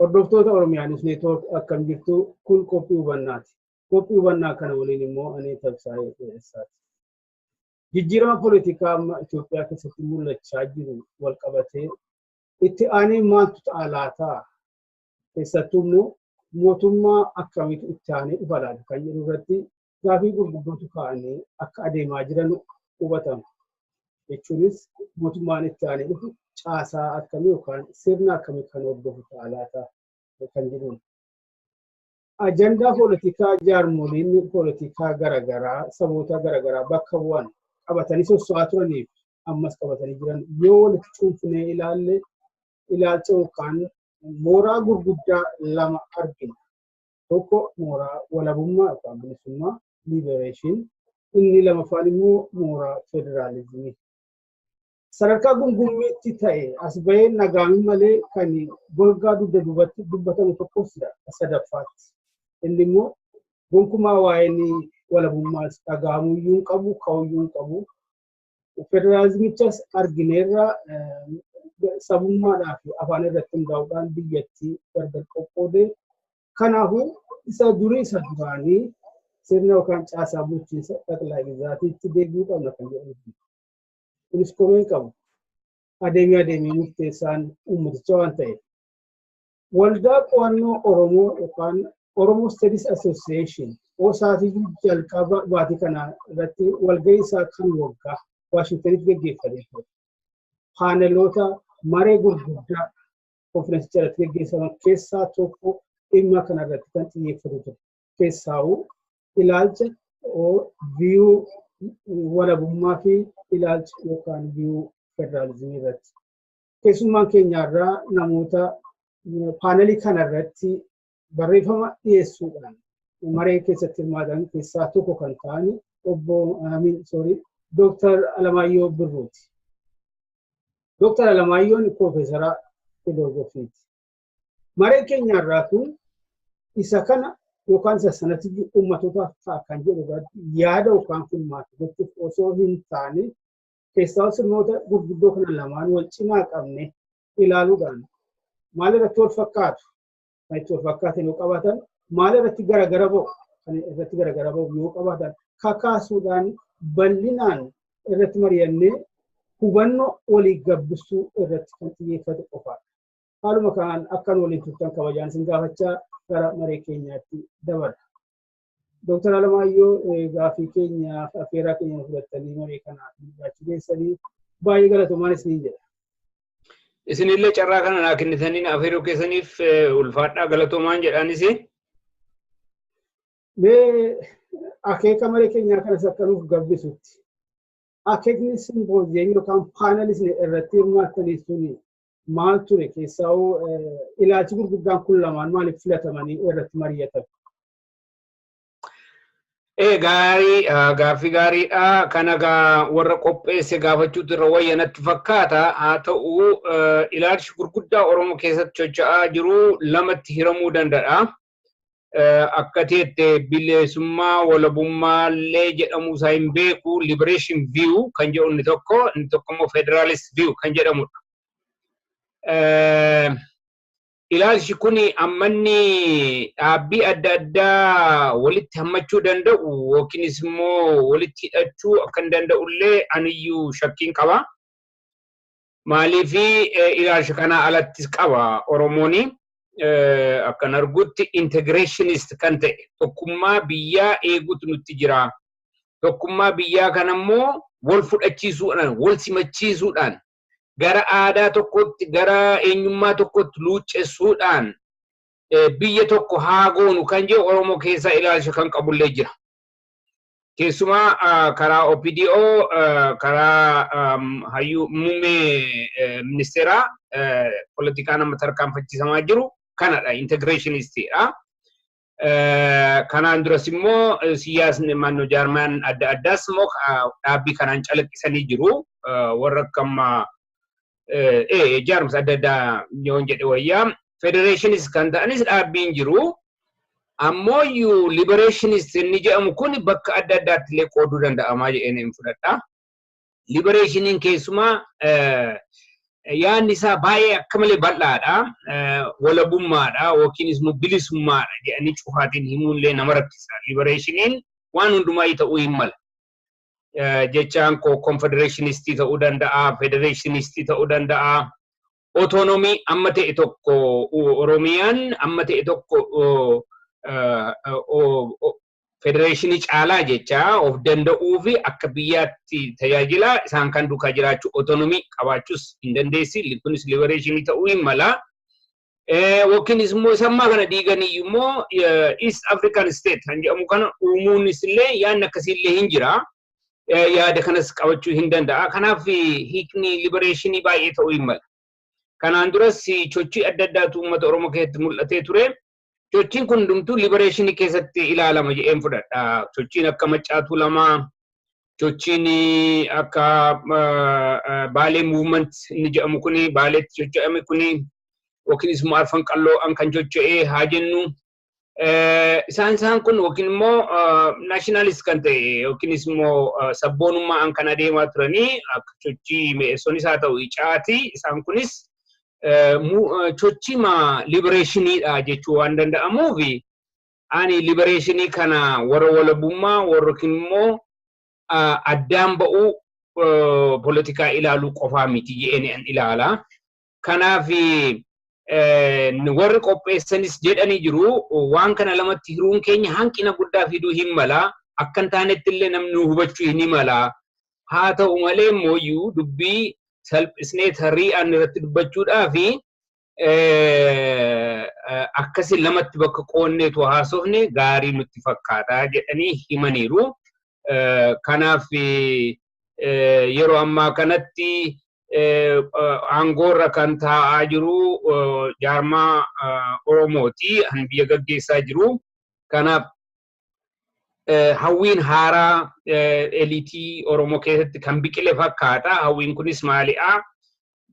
Hordoftoota Oromiyaa News Network akkam jirtu kun qophii hubannaati. Qophii hubannaa kana waliin immoo ani Tabsaayee Dheeressaati. Jijjiirama poolitikaa amma Itoophiyaa keessatti mul'achaa jiru wal qabatee itti aanee maaltu ta'a laata? Keessattuu immoo mootummaa akkamiitu itti aanee dhufa laata kan jedhu irratti gaafii gurguddootu ka'anii akka adeemaa jiran hubatama. Jechuunis mootummaan itti aanee dhufu caasaa akkamii yookaan sirna akkamii kan hordofu ta'a laata kan jedhuun. Ajandaa poolitikaa jaarmoliin poolitikaa garaagaraa saboota garaagaraa bakka bu'an qabatanii sosso'aa turaniif ammas qabatanii jiran yoo walitti cuunfinee ilaalle ilaalcha yookaan mooraa gurguddaa lama argina. tokko mooraa walabummaa yookaan bilisummaa liberation inni lamaffaan immoo mooraa federaalizimii. Sadarkaa gungummiitti ta'e as bahee nagaan malee kan golgaa dugda duubatti dubbatamu tokkos sadaffaatti. Inni immoo gonkumaa waa'een walabummaas dhagahamuyyuu hin qabu, ka'uyyuu hin qabu. federaalizimichas argineerra sabummaadhaa fi afaan irratti hundaa'uudhaan biyyattii gargar qoqqoode. Kanaafuu isa durii isa duraanii sirna yookaan caasaa bulchiinsa xaqilaa gizaatiitti deebi'uu qabna kan jedhamu. Kunis komeen qabu adeemee adeemee murteessaan uummaticha waan ta'eef. Waldaa Qo'annoo Oromoo yookaan Oromo Studies Association OSAAtiin jalqaba baatii kanaa irratti walgahii isaa kan waggaa Waashingtanitti gaggeeffamee ture. Paaneloota maree gurguddaa konferensicha irratti gaggeeffaman keessaa tokko dhimma kana irratti kan xiyyeeffatu ture. Keessaawuu ilaalcha viyuu walabummaa fi ilaalcha yookaan viyuu federaalizimii irratti. keessummaan keenyaarraa namoota paanelii kanarratti barreeffama dhiyeessuudhaan maree keessatti hirmaatan keessaa tokko kan ta'an obbo Amin Soorii Dooktar Alamaayyoo Birruuti. Dooktar Alamaayyoon Piroofeesara Filoozofiiti. Maree keenyaarraa kun isa kana yookaan isa sanatti uummatootaaf ta'a kan jedhu irratti yaada yookaan filmaata gochuuf osoo hin taane keessaa sirnoota gurguddoo kana lamaan wal cimaa qabne ilaaluudhaan maal irratti wal fakkaatu kan itti wal fakkaatan yoo qabaatan maal irratti garagara ba'u kan irratti garagara ba'u yoo qabaatan kakaasuudhaan bal'inaan irratti mari'annee hubannoo walii gabbisuu irratti kan xiyyeeffate qofaadha. Haaluma kanaan akkan waliin turtan kabajaan isin gaafachaa gara maree keenyaatti dabarra. Dooktar Alamaayyoo gaaffii keenyaaf affeerraa keenya fudhattanii marii kanaaf jiraachuu keessanii baay'ee galatoomaa isiniin jedha. Isinillee carraa kana naa kennitanii na affeeruu keessaniif ulfaadhaa galatoomaan jedhaanis. Mee akeeka marii keenyaa kanas akka nuuf gabbisutti akeekni simpooziyemii yookaan paanalisni irratti hirmaattanii suni maal ture keessaa'uu ilaalchi gurguddaan kun lamaan maaliif filatamanii irratti mari'atan? Ee gaarii gaaffii gaariidha. Kana gaa warra qopheesse gaafachuutu irra wayya natti fakkaata. Haa ta'u ilaalchi gurguddaa Oromoo keessatti socho'aa jiru lamatti hiramuu danda'a. Akka teette bilisummaa walabummaa illee jedhamuu isaa hin beeku liberation view kan jedhu inni tokko inni tokko immoo federalist view kan jedhamudha. Ilaalchi kun ammanni dhaabbii adda addaa walitti hammachuu danda'u yookiinis immoo walitti hidhachuu akka hin danda'ullee aniyyuu shakkiin qaba. Maaliif ilaalcha kanaa alattis qaba Oromoon akkan argutti integrationist kan ta'e tokkummaa biyyaa eeguutu nutti jira. Tokkummaa biyyaa kanammoo wal fudhachiisuudhaan, wal simachiisuudhaan gara aadaa tokkotti gara eenyummaa tokkotti luuccessuudhaan biyya tokko haa goonu kan jedhu Oromoo keessaa ilaalcha kan qabullee jira. Keessumaa karaa OPDO karaa hayyuu muummee ministeeraa politikaa nama tarkaanfachiisamaa jiru kanadha integireeshinistiidha. Kanaan duras immoo siyaasni mannoo jaarmaan adda addaas immoo dhaabbii kanaan calaqqisanii jiru. Warra akka ammaa jaarmsa adda addaa yoon jedhe wayyaa federeeshiniis kan ta'anis dhaabbiin jiru. Ammoo iyyuu libereeshiniis inni jedhamu kun bakka adda addaatti illee qooduu danda'amaa jedheen hin fudhadha. Liberationin keessumaa yaadni isaa baay'ee akka malee bal'aadha. Walabummaadha yookiinis immoo bilisummaadha jedhanii cufaatiin himuullee nama rakkisa. Liberationin waan hundumaa ta'uu hin mala. Jechaan koo konfedereeshinistii ta'uu danda'a, federeeshinistii ta'uu danda'a. otoonomii amma ta'e tokko Oromiyaan amma ta'e tokko federeeshinii caalaa jecha of danda'uu fi akka biyyaatti tajaajila isaan kan duukaa jiraachuu otoonomii qabaachuus hin dandeessi. Kunis libereeshinii ta'uu hin mala. Yookiinis immoo isa ammaa kana diiganii immoo East African State kan jedhamu kana uumuunis illee yaadni akkasii illee hin jira. yaada kanas qabachuu hin danda'a. Kanaaf hiikni libereeshinii baay'ee ta'uu hin mala. Kanaan duras sochii adda addaatu uummata Oromoo keessatti mul'atee ture. Sochiin kun hundumtuu libereeshinii keessatti ilaalama jedheen fudhadha. Sochiin akka Maccaatuu Lamaa, sochiin akka Baalee Muuvment inni jedhamu kuni, Baaleetti socho'ame kuni, yookiinis immoo Arfan Qalloo an kan socho'e haa jennu. Isaan isaan kun yookiin immoo naashinalis kan ta'e yookiinis immoo sabboonummaan kan adeemaa turanii akka sochii mi'eessonis haa ta'u icaati isaan kunis sochima libereeshiniidha jechuu waan danda'amuuf ani libereeshinii kana warra walabummaa warra yookiin immoo addaan ba'uu poolitikaa ilaaluu qofaa miti jedheen ilaala. Kanaaf warri qopheessanis jedhanii jiru waan kana lamatti hiruun keenya hanqina guddaa fiduu hin mala. Akka hin taanetti illee namni nu hubachuu hin mala. Haa ta'u malee immoo iyyuu dubbii salphisnee tari'aan irratti dubbachuudhaa fi akkasi lamatti bakka qoonneetu haasofne gaarii nutti fakkaata jedhanii himaniiru. Kanaaf yeroo ammaa kanatti aangoorra kan taa'aa jiru jaarmaa Oromooti kan biyya gaggeessaa jiru. Kanaaf hawwiin haaraa eliitii Oromoo keessatti kan biqile fakkaata. Hawwiin kunis maaliidha?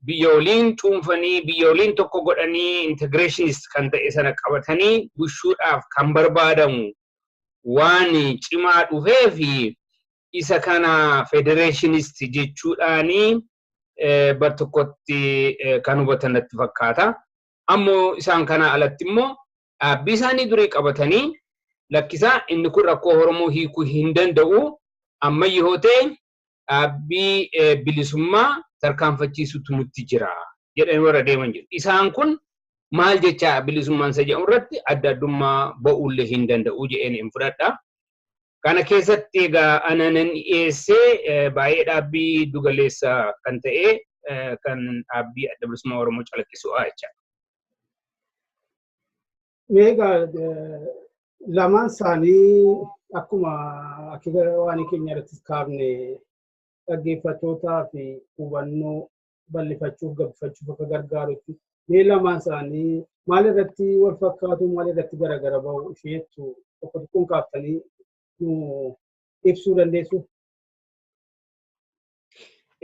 biyya waliin cuunfanii, biyya waliin tokko godhanii integrationist kan ta'e sana qabatanii bushuudhaaf kan barbaadamu waan cimaa dhufeef isa kana federeeshinist jechuudhaan bar tokkotti kan hubatan natti fakkaata. Ammoo isaan kanaa alatti immoo dhaabbii isaanii durii qabatanii lakkisaa inni kun rakkoo Oromoo hiikuu hin danda'u ammayyi hoo ta'e dhaabbii bilisummaa tarkaanfachiisutu nutti jira jedhanii warra deeman jiru. Isaan kun maal jechaa bilisummaan isa jedhu irratti adda addummaa ba'uullee hin danda'u jedheen hin fudhadha. Kana keessatti egaa ana nan dhiyeessee baay'ee dhaabbii dugaleessa kan ta'e kan dhaabbii adda bilisummaa Oromoo calaqqisu jechaadha. Egaa lamaan isaanii akkuma akira waan keenya irratti kaafne dhaggeeffattootaa fi hubannoo bal'ifachuuf gabbifachuuf akka gargaarutti mee lamaan isaanii maal irratti wal fakkaatu maal irratti garagara ba'u isheettu tokko tokkoon kaaftanii nu ibsuu dandeessu.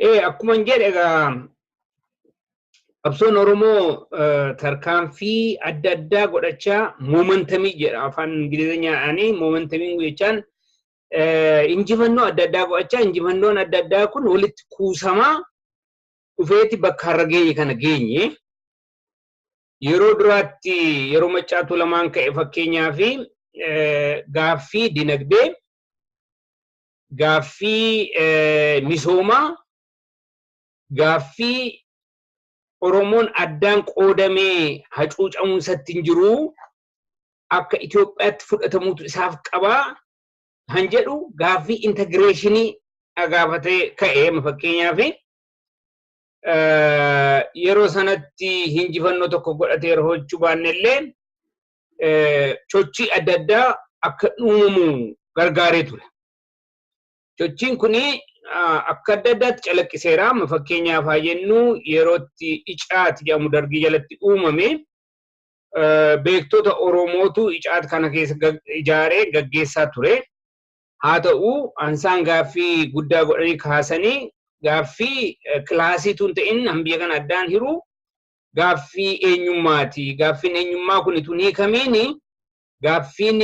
Ee akkuma hin jedhe egaa qabsoon Oromoo eh, tarkaanfii adda addaa godhachaa moomantamii jedha afaan Ingilizeenyaadhaanii moomantamii jechaan eh, injifannoo adda addaa godhachaa injifannoon adda addaa kun walitti kuusamaa dhufeeti bakka har'a geenye kana geenye. Yeroo duraatti yeroo maccaatuu lamaan ka'e fakkeenyaa fi gaaffii dinagdee gaaffii misoomaa, gaaffii Oromoon addaan qoodamee hacuucamuun isatti hin jiru, akka Itoophiyaatti fudhatamuutu isaaf qaba kan jedhu gaaffii integreeshinii gaafatee ka'e. Amma fakkeenyaaf yeroo sanatti injifannoo tokko godhatee yeroo hojjechuu baanne illee sochii adda addaa akka uumamu gargaaree ture. Sochiin kun akka adda addaatti calaqqiseera. Amma fakkeenyaaf haa jennu yerootti icaati jedhamu dargii jalatti uumame beektota Oromootu icaati kana keessa ijaaree gaggeessaa ture. Haa ta'u ansaan gaaffii guddaa godhanii kaasanii gaaffii kilaasii tun ta'in biyya kana addaan hiru gaaffii eenyummaati. Gaaffiin eenyummaa kun tun hiikamiin gaaffiin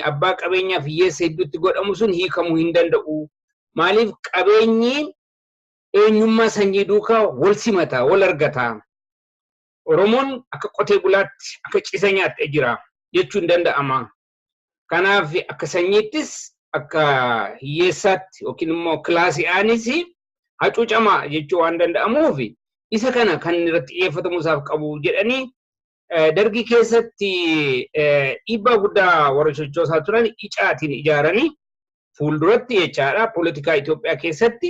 abbaa qabeenyaaf hiyyeessa hedduutti godhamu sun hiikamuu hin danda'u. Maaliif qabeenyi eenyummaa sanyii duukaa wal simata, wal argata. Oromoon akka qotee bulaatti, akka cisa nyaatte jira jechuun danda'ama. Kanaaf akka sanyiittis akka hiyyeessaatti yookiin immoo kilaasii aanis hacuucamaa jechuu waan danda'amuuf isa kana kan irratti xiyyeeffatamuu isaaf qabu jedhanii dargii keessatti dhiibbaa guddaa warra sochoosaa turan icaatiin ijaaranii fuulduratti jechaadha poolitikaa Itoophiyaa keessatti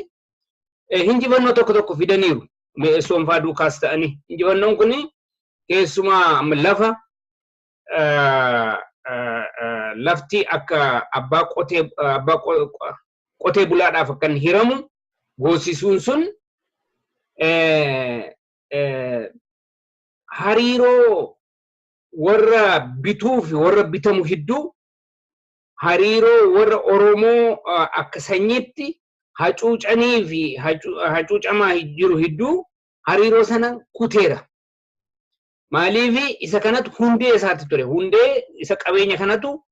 hinjifannoo tokko tokko fidaniiru. Mi'eessoon fa'aa duukaas ta'anii. Injifannoon kun keessumaa lafa lafti akka abbaa qotee abbaa qotee bulaadhaaf akka hin hiramu goosisuun sun hariiroo warra bituu fi warra bitamu hedduu hariiroo warra Oromoo akka sanyiitti hacuucanii fi hacuucamaa jiru hedduu hariiroo sana kuteera. Maaliif isa kanatu hundee isaati ture. Hundee isa qabeenya kanatu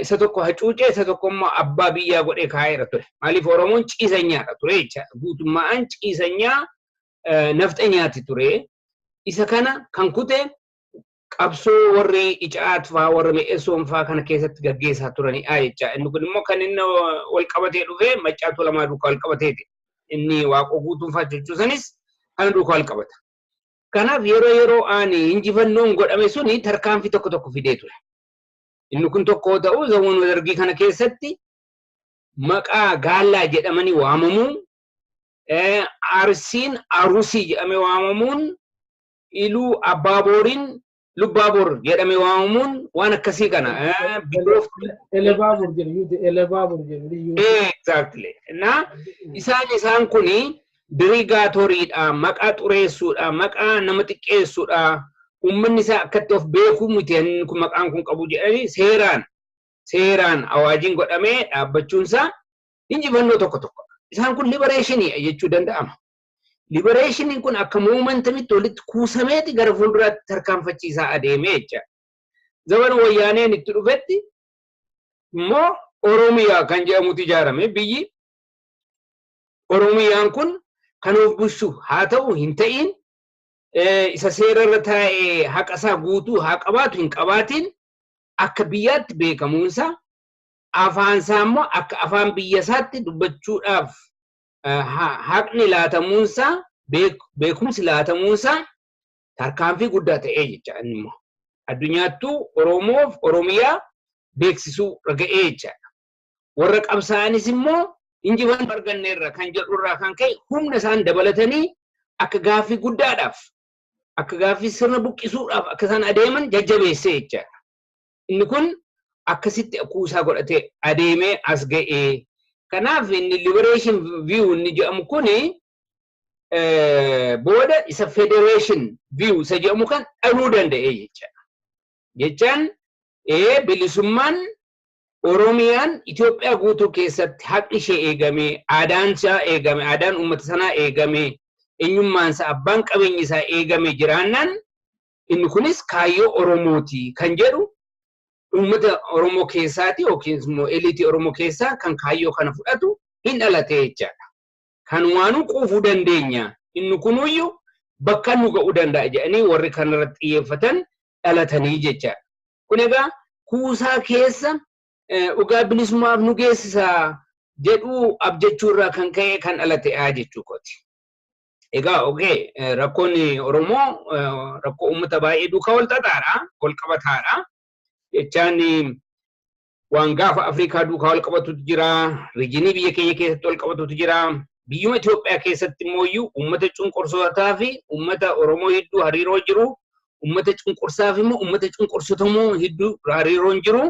isa tokko hacuucee isa tokko immoo abbaa biyyaa godhee kaa'eera ture. Maaliif Oromoon ciisanyaadha ture jecha guutummaan ciisanyaa nafxanyaati ture. Isa kana kan kute qabsoo warri Icaat faa warri Me'esoon faa kana keessatti gaggeessaa turanidha jecha. Inni kun immoo kan inni wal qabatee dhufe maccaatuu lamaa duukaa wal qabateeti. Inni waaqoo guutuun faa jechuusanis kana duukaa wal qabata. Kanaaf yeroo yeroo aan injifannoon godhame suni tarkaanfii tokko tokko fidee ture. Inni kun tokko yoo ta'u zamanuma dargii kana keessatti maqaa gaallaa jedhamanii waamamuun eh, arsiin arusii jedhamee waamamuun iluu abbaa booriin Lubbaabor jedhamee waamamuun waan akkasii kana eh, biyyoota Elebaabur jedhu yuuti elebaabur jedhu yuuti. Exactly. Na isaan isaan kuni dirigaatooriidha, maqaa xureessuudha, maqaa nama xiqqeessuudha. Uummanni isaa akkatti of beekuu miti inni kun maqaan kun qabu jedhanii seeraan seeraan awaajiin godhamee dhaabbachuun isaa injifannoo tokko tokko. Isaan kun libereeshinii jechuu danda'ama. Liberationin kun akka momentamitti walitti kuusameeti gara fuulduraatti tarkaanfachiisaa adeemee jecha. Zabana wayyaaneen itti dhufetti immoo Oromiyaa kan jedhamutu ijaarame biyyi Oromiyaan kun kan of bulchu haa ta'u hin ta'iin isa seera irra taa'ee haqa isaa guutuu haa qabaatu hin qabaatiin akka biyyaatti beekamuunsaa afaan isaa immoo akka afaan biyya isaatti dubbachuudhaaf haqni laatamuunsaa beekumsi laatamuunsaa tarkaanfii guddaa ta'ee jecha inni immoo addunyaattuu Oromoof Oromiyaa beeksisuu raga'ee jechaadha. Warra qabsaa'anis immoo injifannoo arganne irra kan jedhu irraa kan ka'e humna isaan dabalatanii akka gaaffii guddaadhaaf akka gaaffii sirna buqqisuudhaaf akka isaan adeeman jajjabeessee jechaadha. Inni kun akkasitti kuusaa godhatee adeemee as ga'e. Kanaaf inni liberation view inni jedhamu kun booda isa federation view isa jedhamu kan dhaluu danda'e jechaadha. Jechaan bilisummaan Oromiyaan Itoophiyaa guutuu keessatti haqni ishee eegamee, aadaan isaa eegame, aadaan uummata sanaa eegamee, eenyummaan isaa, abbaan qabeenyi isaa eegame jiraannaan Inni kunis kaayyoo Oromooti kan jedhu uummata Oromoo keessaati yookiis immoo eliitii Oromoo keessaa kan kaayyoo kana fudhatu hin dhalate jechaadha. Kanumaanuu quufuu dandeenya, inni kunuuyyu bakkaan nu ga'uu danda'a jedhanii warri kanarratti xiyyeeffatan dhalatanii jechaadha. Kun egaa kuusaa keessa dhugaa bilisummaaf nu geessisa jedhu abjachuu irraa kan ka'e kan dhalate'a jechuu kooti. Egaa ogee rakkoon Oromoo rakkoo uummata baay'ee duukaa wal xaxaadha, wal qabataadha. Jechaan waan gaafa Afrikaa duukaa wal qabatutu jira, riijinii biyya keenya keessatti wal qabatutu jira. Biyyuma Itoophiyaa keessatti immoo iyyuu uummata cunqursootaa fi uummata Oromoo hedduu hariiroo jiru, uummata cunqursaa fi immoo uummata cunqursitamoo hedduu hariiroon jiru.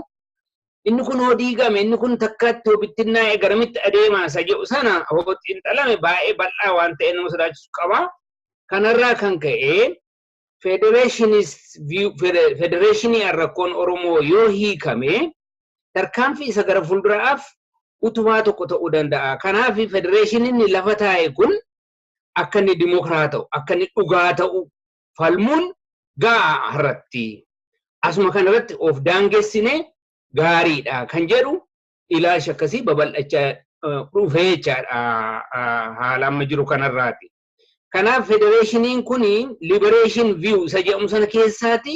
inni kun hoo diigame inni kun takkaatti hoo bittinnaa'e garamitti adeemaa isa jedhu sana hoo xiinxalame baay'ee bal'aa waan ta'e nama sodaachisu qaba. Kanarraa kan ka'e federeeshinii rakkoon Oromoo yoo hiikame tarkaanfii isa gara fuulduraaf utubaa tokko ta'uu danda'a. Kanaaf federeeshiniin lafa taa'e kun akka inni dimokiraata'u, akka inni dhugaa ta'u, falmuun ga'aa har'atti. Asuma kana irratti of daangessine gaariidha kan jedhu ilaalchi akkasii babal'achaa dhufee jechaadha haala amma jiru kanarraati. Kanaaf federeeshiniin kun liberation view isa jedhamu sana keessaati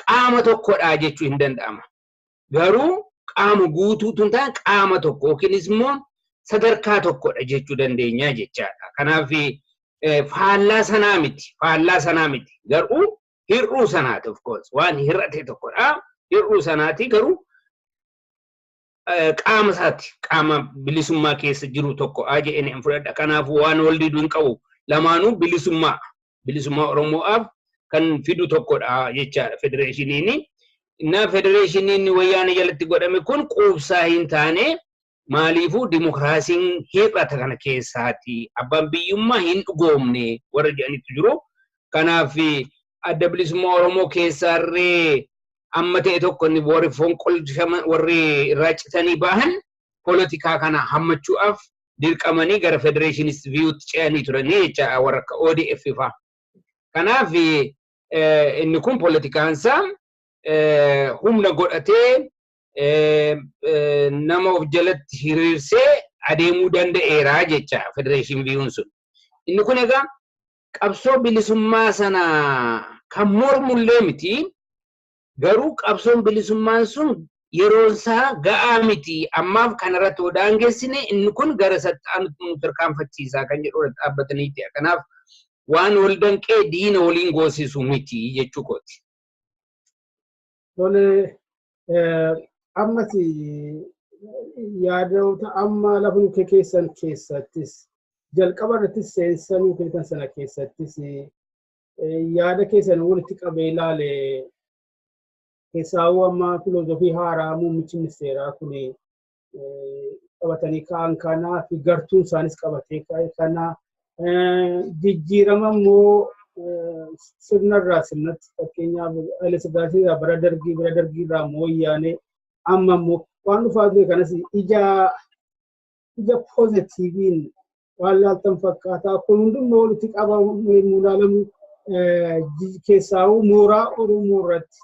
qaama tokkodha jechuu hin danda'ama. garuu qaama guutuu tun ta'an qaama tokko yookiinis immoo sadarkaa tokkodha jechuu dandeenya jechaadha. Kanaaf faallaa sanaa miti faallaa sanaa miti garuu hir'uu sanaati of course waan hir'ate tokkodha hir'uu sanaati garuu qaama isaati qaama bilisummaa keessa jiru tokko jedheen hin fudhadha kanaaf waan wal didu hin qabu lamaanuu bilisummaa bilisummaa Oromoo'aaf kan fidu tokkodha jechaadha federeeshiniin. Innaa federeeshiniin wayyaanee jalatti godhame kun quubsaa hin taane maaliifuu dimokiraasiin hir'ata kana keessaati. Abbaan biyyummaa hin dhugoomne warra jedhanitu jiru. Kanaaf adda bilisummaa Oromoo keessaarree amma ta'e tokko inni warri fonqolchama warri irraa citanii bahan polotikaa kana hammachuudhaaf dirqamanii gara federeeshinisti viyuutti ce'anii turanii jecha warra akka ODF faa. Kanaaf inni kun poolitikaansaa humna godhatee nama of jalatti hiriirsee adeemuu danda'eera jecha federeeshin viyuun sun. Inni kun egaa qabsoo bilisummaa sana kan mormullee miti Garuu qabsoon bilisummaan sun yeroonsaa ga'aa miti, ammaaf kanarratti yoo daangessine inni kun gara isatti aanutti nu tarkaanfachiisa kan jedhu irratti dhaabbataniiti. Kanaaf waan wal danqee diina waliin goosisu miti jechuu kooti. Tole, ammas yaadota amma lafa nu keessan keessattis jalqaba irrattis seensa nu keessan sana keessattis yaada keessan walitti qabee ilaale keessaawuu amma filoozofii haaraa muummichi ministeeraa kun qabatanii ka'an kanaa fi gartuun isaanis qabatee ka'e kanaa jijjiirama immoo sirna irraa sirnatti fakkeenyaaf Haile Sillaasee irraa bara dargii bara dargii irraa immoo wayyaanee amma immoo waan dhufaa ture kanas ija ija poozitiiviin waan laaltan fakkaata. Kun hundummoo walitti qabamu yommuu ilaalamu keessaawuu mooraa Oromoo irratti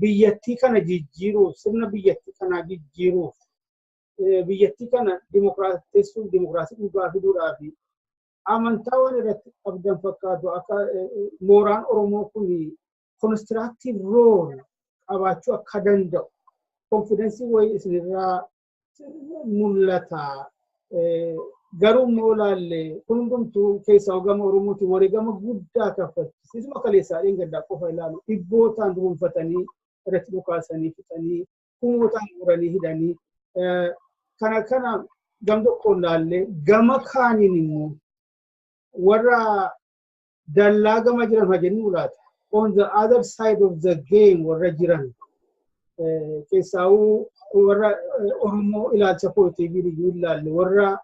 biyyattii kana jijjiiruuf sirna biyyattii kanaa jijjiiruuf biyyattii kana dimokiraatessuuf dimokiraasii dhugaa fiduudhaa fi amantaa waan irratti qabdan fakkaatu akka mooraan Oromoo kun konistiraaktiiv rool qabaachuu akka danda'u konfidensii wayii isinirraa mul'ata. Garuu immoo ilaalle kun hundumtuu keessaa hogama Oromooti wareegama guddaa kaffalchiisa. Isuma kaleessaa dheengaddaa qofa ilaalu dhibbootaan dhuunfatanii irratti dhukaasanii fixanii kumootaan guuranii hidhanii kana kana gam tokkoon ilaalle gama kaaniin immoo warra dallaa gama jiran haa jennuu laata. On the other side of the game warra jiran keessaawuu warra Oromoo ilaalcha poozitiivii liyyuu ilaalle warra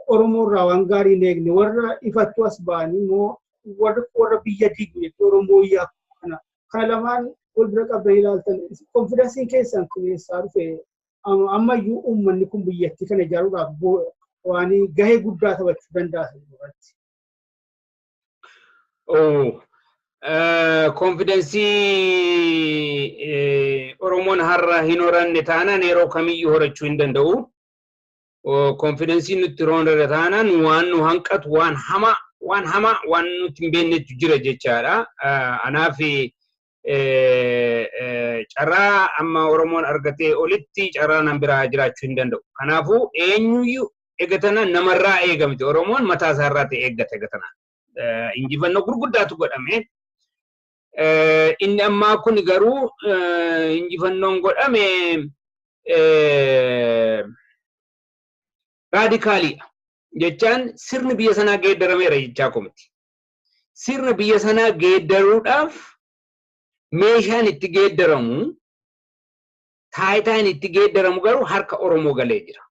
Oromoo irraa waan gaarii hin eegne warra ifattuu as ba'anii immoo warra biyya diigu jechuudha Oromoo iyyaa kana. Kana lamaan wal bira qabdan ilaaltan konfidansiin keessan kun eessaa dhufe ammayyuu uummanni kun biyyattii kana ijaaruudhaaf waan gahee guddaa taphachuu danda'a irratti. Konfidensii Oromoon har'a hin horanne taanaan yeroo kamiyyuu horachuu hin danda'u. Konfidensii nutti horanne taanaan waan nu hanqatu waan hamaa waan hamaa waan nutti hin beeknetu jira jechaadha. Anaaf carraa amma Oromoon argatee olitti carraa nan biraa jiraachuu hin danda'u. Kanaafuu eenyuyyuu egatana namarraa eegamte Oromoon mataa isaa irraa ta'e eeggata egatana. Injifannoo gurguddaatu godhame. Inni ammaa kun garuu injifannoon godhame raadikaaliidha. Jechaan sirni biyya sanaa geeddarameera jechaa komiti. sirna biyya sanaa geeddaruudhaaf meeshaan itti geeddaramu taayitaan itti geeddaramu garuu harka Oromoo galee jira.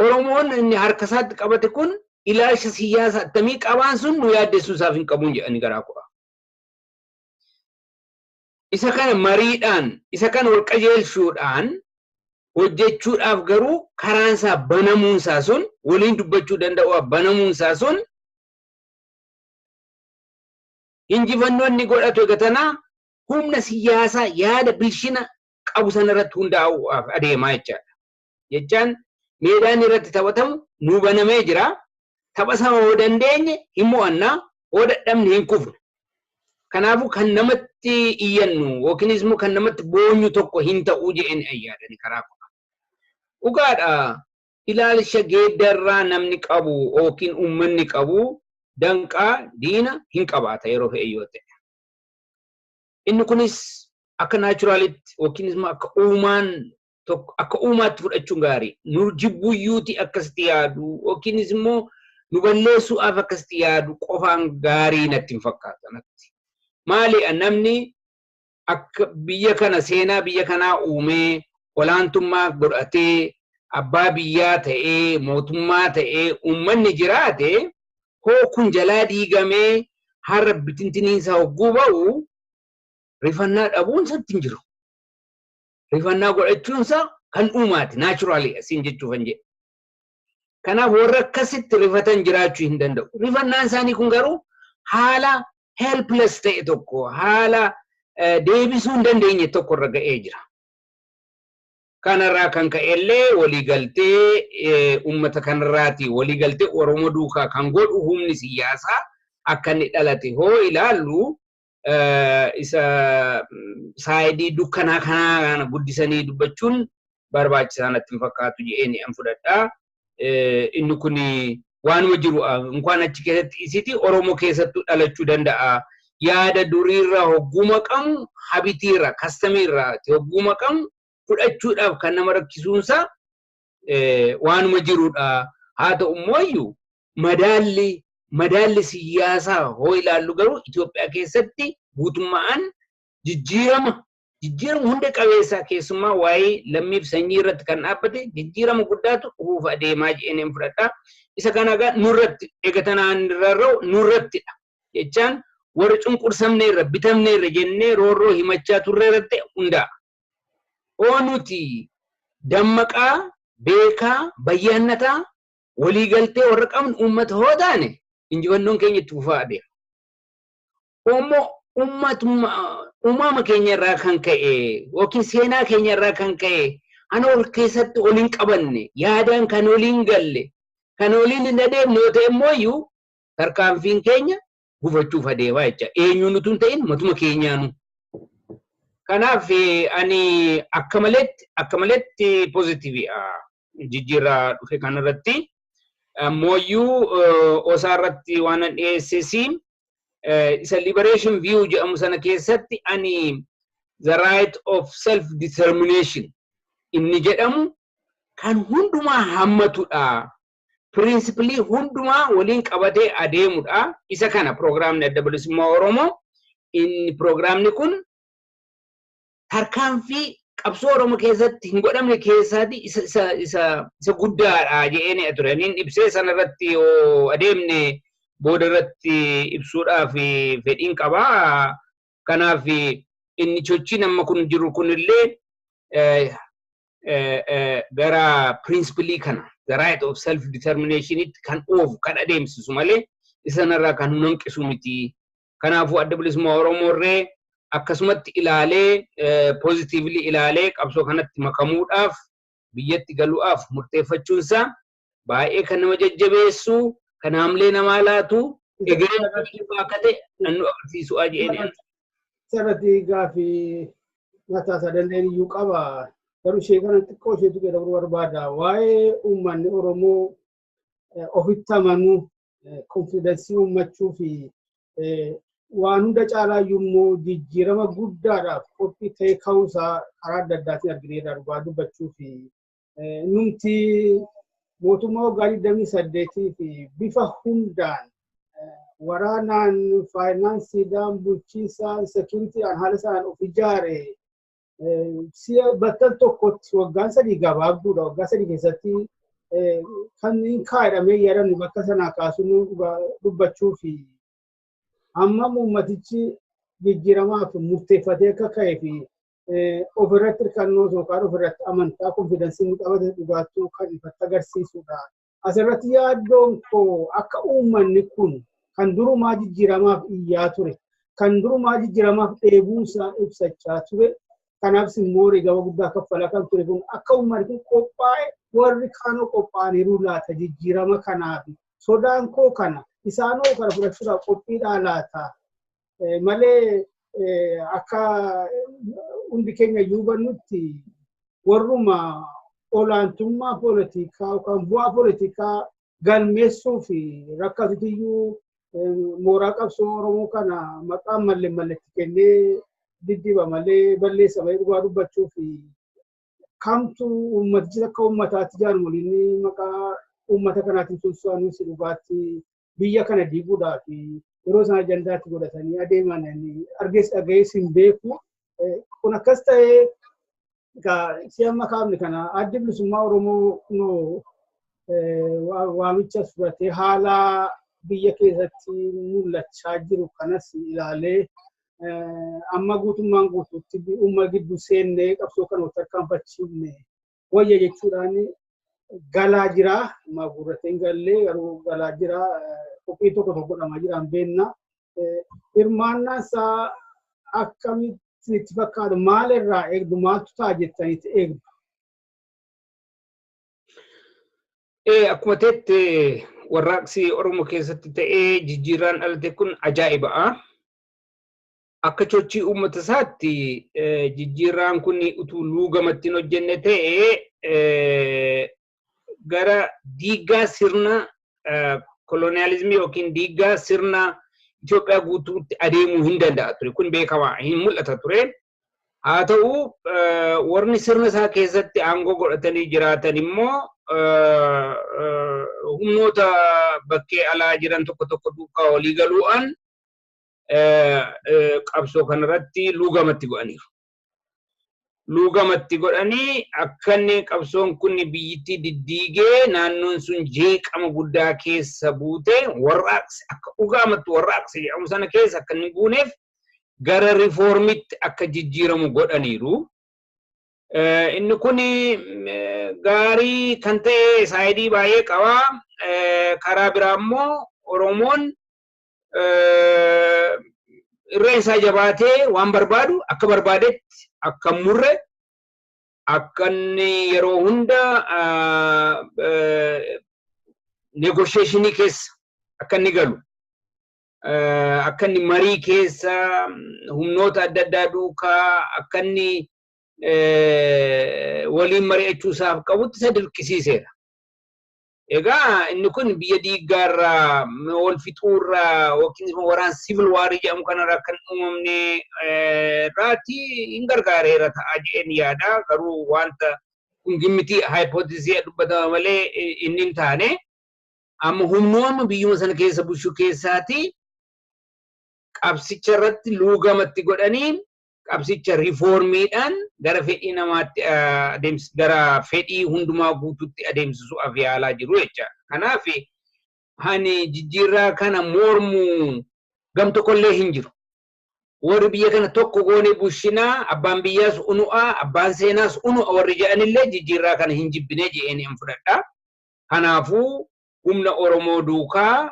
Oromoon inni harka isaatti qabate kun ilaalcha siyaasa attamii qabaan sun nu yaaddessuu isaaf hin qabuun jedhanii garaa kuraa. Isa kana mariidhaan, isa kana wal qajeelchuudhaan hojjechuudhaaf garuu karaan isaa banamuun isaa sun, waliin dubbachuu danda'uudhaaf banamuun isaa sun injifannoo inni godhatu egaa tana humna siyaasaa yaada bilchina qabu sana irratti hundaa'uudhaaf adeemaa jechaadha. jechaan meedaan irratti taphatamu nuu banamee jira. Tapha sana yoo dandeenye hin mo'anna, yoo dadhabne hin kufna. Kanaafuu kan namatti iyyannu yookiinis immoo kan namatti boonyu tokko hin ta'u jedheen ayyaadani karaa koo. Dhugaadha ilaalcha geeddarraa namni qabu yookiin uummanni qabu danqaa diina hin qabaata yeroo fe'e yoo ta'e. Inni kunis akka naachuraalitti yookiinis immoo akka uumaan tokko akka uumaatti fudhachuun gaarii nu jibbuyyuuti akkasitti yaadu yookiinis immoo nu balleessuudhaaf akkasitti yaadu qofaan gaarii natti hin fakkaatu natti. Maali namni akka biyya kana seenaa biyya kanaa uumee olaantummaa godhatee abbaa biyyaa ta'ee mootummaa ta'ee uummanni jiraate hoo kun jalaa diigamee har'a bitintiniinsa hogguu ba'u rifannaa dhabuun isatti hin jiru. rifannaa godhachuun isaa kan uumaati naachuraalii asiin jechuuf hin jedhe. Kanaaf warra akkasitti rifatan jiraachuu hin danda'u. Rifannaan isaanii kun garuu haala helpless ta'e tokko haala deebisuu hin dandeenye tokko irra ga'ee jira. Kanarraa kan ka'e illee waliigaltee uummata kanarraati waliigaltee Oromoo duukaa kan godhu humni siyaasaa akka inni dhalate hoo ilaallu isa saayidii dukkanaa kanaa kana guddisanii dubbachuun barbaachisaa natti hin fakkaatu jedheen an fudhadha. Inni kun waanuma jiru inkaan achi keessatti isiti Oromoo keessattuu dhalachuu danda'a. Yaada duriirra hogguu maqamu habitiirra kastamiirra hogguu maqamu fudhachuudhaaf kan nama rakkisuunsaa waanuma jirudha. Haa ta'u immoo madaalli madaalli siyyaasaa hoo ilaallu garuu Itoophiyaa keessatti guutummaan jijjiirama jijjiirama hunda qabeessaa keessumaa waa'ee lammiif sanyii irratti kan dhaabbate jijjiirama guddaatu dhufuuf adeemaa jedheen fudhadha. Isa kana egaa nurratti egatanaan irrarra'u nurrattidha jechaan warra cunqursamne irra bitamne irra jennee roorroo himachaa turre irratti hundaa'a. Oo nuti dammaqaa beekaa bayyaannataa walii galtee warra qabnu uummata hoo taane injifannoon keenya itti fufaa adeema. Uummoo uummatuma uumama keenya irraa kan ka'e yookiin seenaa keenya irraa kan ka'e ana ol keessatti ol hin qabanne yaadaan kan ol hin galle kan oliin hin adeemne yoo ta'e immoo iyyuu tarkaanfiin keenya gufachuuf adeemaa jecha eenyuun utuu hin ta'in matuma keenyaanu. Kanaaf ani akka maletti akka maletti pozitiiviidha. jijjiirraa dhufe kanarratti ammooyyuu osaa irratti waan dhiyeessesiin isa liberation view jedhamu sana keessatti ani the right of self determination inni jedhamu kan hundumaa hammatudha. Pirinsipilii hundumaa waliin qabatee adeemudha. Isa kana piroogiraamni adda bilisummaa Oromoo inni piroogiraamni kun tarkaanfii qabsoo Oromoo keessatti hin godhamne keessaatii isa, isa, isa, isa guddaadha jedhee ture. Niin ibsee sana irratti yoo adeemne booda irratti ibsuudhaaf fedhiin qaba. Kanaaf inni chochiin amma kun jiru kunillee eh, eh, eh, gara pirinsipilii kana, the right of self determinationitti kan oofu, kan adeemsisu malee isa sanarraa kan nu hanqisu miti Kanaafuu Adda Bilisummaa Oromoo irree akkasumatti ilaalee positively ilaalee qabsoo kanatti makamuudhaaf biyyatti galuudhaaf murteeffachuun isaa baay'ee kan nama jajjabeessu kan haamlee namaa laatu egereen bilisummaa akka ta'e kan nu agarsiisu'aa jedheen. Sarati gaafii mataa isaa danda'een iyyuu qaba. Garuu ishee kana xiqqoo isheetu jedhamu barbaada. Waa'ee uummanni Oromoo ofitti amanuu konfiidensii uummachuu fi waan hunda caalaa immoo jijjiirama guddaadhaaf qophii ta'ee ka'uusaa karaa adda addaatiin argineerra dhugaa dubbachuu fi numti mootummaa waggaa 28 fi bifa hundaan waraanaan faayinaansiidhaan bulchiinsaan seekuriitiidhaan haala isaan of ijaare si'a battal tokkotti waggaan sadii gabaabduudha. Waggaa sadii keessatti kan hin kaa'edhamee yaadamni bakka sanaa kaasuu dubbachuu fi amma uummatichi jijjiiramaaf murteeffatee akka ka'ee fi ofirratti hirkannoo yookaan ofirratti amantaa konfidansiin qabate dhugaattuu kan ifatti agarsiisudha. Asirratti yaaddoon koo akka uummanni kun kan durumaa jijjiiramaaf iyyaa ture, kan durumaa jijjiiramaaf dheebuusaa ibsachaa ture, kanaafis immoo wareegama guddaa kaffalaa kan ture kun akka uummanni kun qophaa'e warri kaanoo qophaa'aniiru laata jijjiirama kanaaf sodaan koo kana isaanoo kana fudhachuudhaaf qophiidhaa laata malee akka hundi keenya iyyuu hubannutti warruma olaantummaa poolitikaa yookaan bu'aa poolitikaa galmeessuu fi rakkatutu iyyuu mooraa qabsoo Oromoo kana maqaan malle malletti kennee diddiba malee balleessa malee dhugaa dubbachuu fi kamtu uummatichi akka uummataatti jaarmoliin maqaa uummata kanaatiin tumsaanis dhugaatti biyya kana diiguudhaa fi yeroo isaan ajandaatti godhatanii adeeman argees dhagayees hin beeku. Kun akkas ta'ee si amma kaafne kana addi bilisummaa Oromoo waamicha fudhatee haala biyya keessatti mul'achaa jiru kanas ilaalee amma guutummaan guutuutti uumma gidduu seennee qabsoo kana tarkaanfachiifne wayya jechuudhaan galaa jira. Amma gurratee hin galle garuu galaa jira. Qophii tokko tokko godhamaa jira hin beekna. Hirmaannaan isaa akkamitti itti fakkaatu maal irraa eegdu maaltu ta'a jettanitti eegdu? Akkuma teette warraaqsi Oromoo keessatti ta'ee jijjiirraan dhalate kun ajaa'iba'a. akka chochii uummata isaatti jijjiirraan kun utuu luugamatti hin hojjenne ta'e gara diiggaa sirna koloniyaalizimii yookiin diiggaa sirna Itoophiyaa guutuutti adeemuu hin danda'a ture. Kun beekamaa hin mul'ata ture. Haa ta'u warri sirna isaa keessatti aangoo godhatanii jiraatan immoo humnoota bakkee alaa jiran tokko tokko duukaa walii galuudhaan qabsoo kanarratti luugamatti godhaniiru. Luugamatti godhanii akka inni qabsoon kun biyyittii diddiigee naannoon sun jeeqama guddaa keessa buute warraaqsi akka dhugaamatti warraaqsi jedhamu sana keessa akka inni buuneef gara rifoormitti akka jijjiiramu godhaniiru. Inni kun gaarii kan ta'e saayidii baay'ee qaba. Karaa biraa immoo Oromoon irreen isaa jabaatee waan barbaadu akka barbaadetti akka murre akka inni yeroo hunda negosheeshinii keessa akka inni galu akka inni marii keessa humnoota adda addaa duukaa akka inni waliin mari'achuu isaaf qabutti isa dirqisiiseera. Egaa inni kun biyya diiggaarra wal fixuurra yookiin immoo waraan siivil waarii jedhamu kanarra akka hin uumamne irraati hin gargaareera ta'a jedheen yaada. Garuu wanta kun gimmitii haayipootizii dubbatama malee inni hin taane amma humnooma biyyuma sana keessa bulchuu keessaati qabsicha irratti luugamatti godhanii qabsicha riifoormiidhaan gara fedhii namaatti adeemsi gara fedhii hundumaa guutuutti adeemsisuuf yaalaa jiru jecha. Kanaaf ani jijjiirraa kana mormu gam tokkollee hin jiru. Warri biyya kana tokko goonee bushinaa abbaan biyyaas unu'a abbaan seenaas unu'a warri jedhanillee jijjiirraa kana hin jibbinee jedheen hin fudhadha. Kanaafuu humna Oromoo duukaa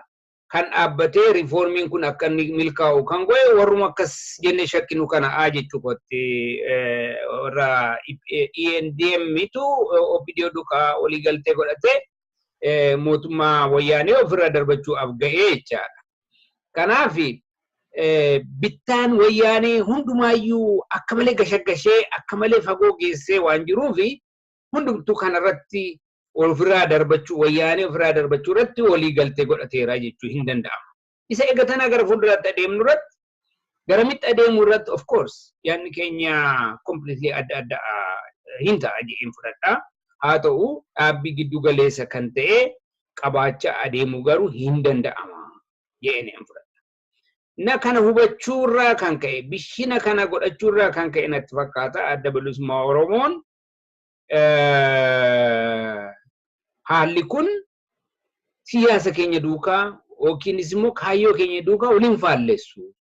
kan dhaabbatee riifoormiin kun akka inni milkaa'u kan godhe warruma akkas jennee shakkinu kana a jechuu kootti warra ENDM tu OPDO dukaa olii galtee godhate mootummaa wayyaanee ofirraa darbachuudhaaf ga'ee jechaadha. Kanaaf bittaan wayyaanee hundumaayyuu akka malee gashagashee akka malee fagoo geessee waan jiruufi hundumtuu kana irratti ofirraa darbachuu wayyaanee ofirraa darbachuu irratti walii galtee godhateera jechuu hin danda'amu. Isa eega tanaa gara fuulduraatti adeemnu irratti garamitti adeemuu irratti of course yaadni keenya completely adda adda hin ta'a jedheen fudhadha. Haa ta'u dhaabbii giddu galeessa kan ta'e qabaachaa adeemuu garuu hin danda'ama jedheen hin fudhadha. Na kana hubachuu irraa kan ka'e bishina kana godhachuu irraa kan ka'e natti fakkaata adda bilisummaa Oromoon haalli kun siyaasa keenya duukaa yookiinis immoo kaayyoo keenya duukaa waliin faallessu.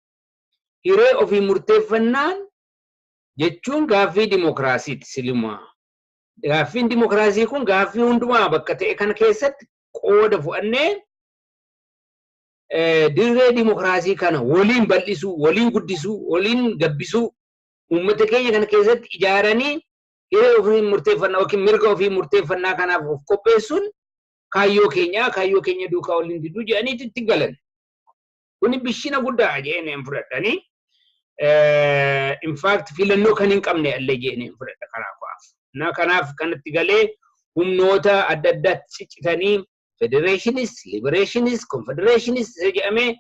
Hiree ofii murteeffannaan jechuun gaaffii dimokiraasiiti silimaa. Gaaffiin dimokiraasii kun gaaffii hundumaa bakka ta'e kana keessatti qooda fudhannee dirree dimokiraasii kana waliin bal'isuu, waliin guddisuu, waliin gabbisuu uummata keenya kana keessatti ijaaranii hiree ofii murteeffannaa yookiin mirga ofii murteeffannaa kanaaf of qopheessuun kaayyoo keenyaa kaayyoo keenya duukaa waliin diduu jedhaniitu itti galan. Kuni bishina guddaa jedhanii hin fudhadhanii. In fact filannoo kan hin qabne illee jedhanii hin fudhadha karaa ko'aaf. Na kanaaf kanatti galee humnoota adda addaatti ciccitanii federeeshiniis, libereeshiniis, konfedereeshiniis isa jedhamee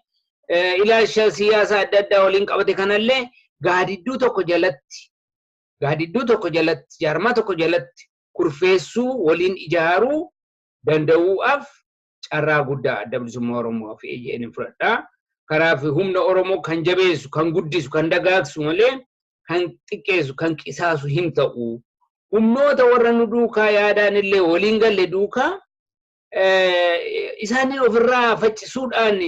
eh, ilaalcha siyaasaa adda addaa waliin qabate kanallee gaadidduu tokko jalatti gaadidduu tokko jalatti jaarmaa tokko jalatti kurfeessuu waliin ijaaruu danda'uudhaaf carraa guddaa adda bilisummaa Oromoo fi AJN fudhadha. Kanaaf humna Oromoo kan jabeessu, kan guddisu, kan dagaagsu malee kan xiqqeessu, kan qisaasu hin ta'u. humnoota warra nu duukaa yaadaan illee waliin galle duukaa isaaniin ofirraa faccisuudhaan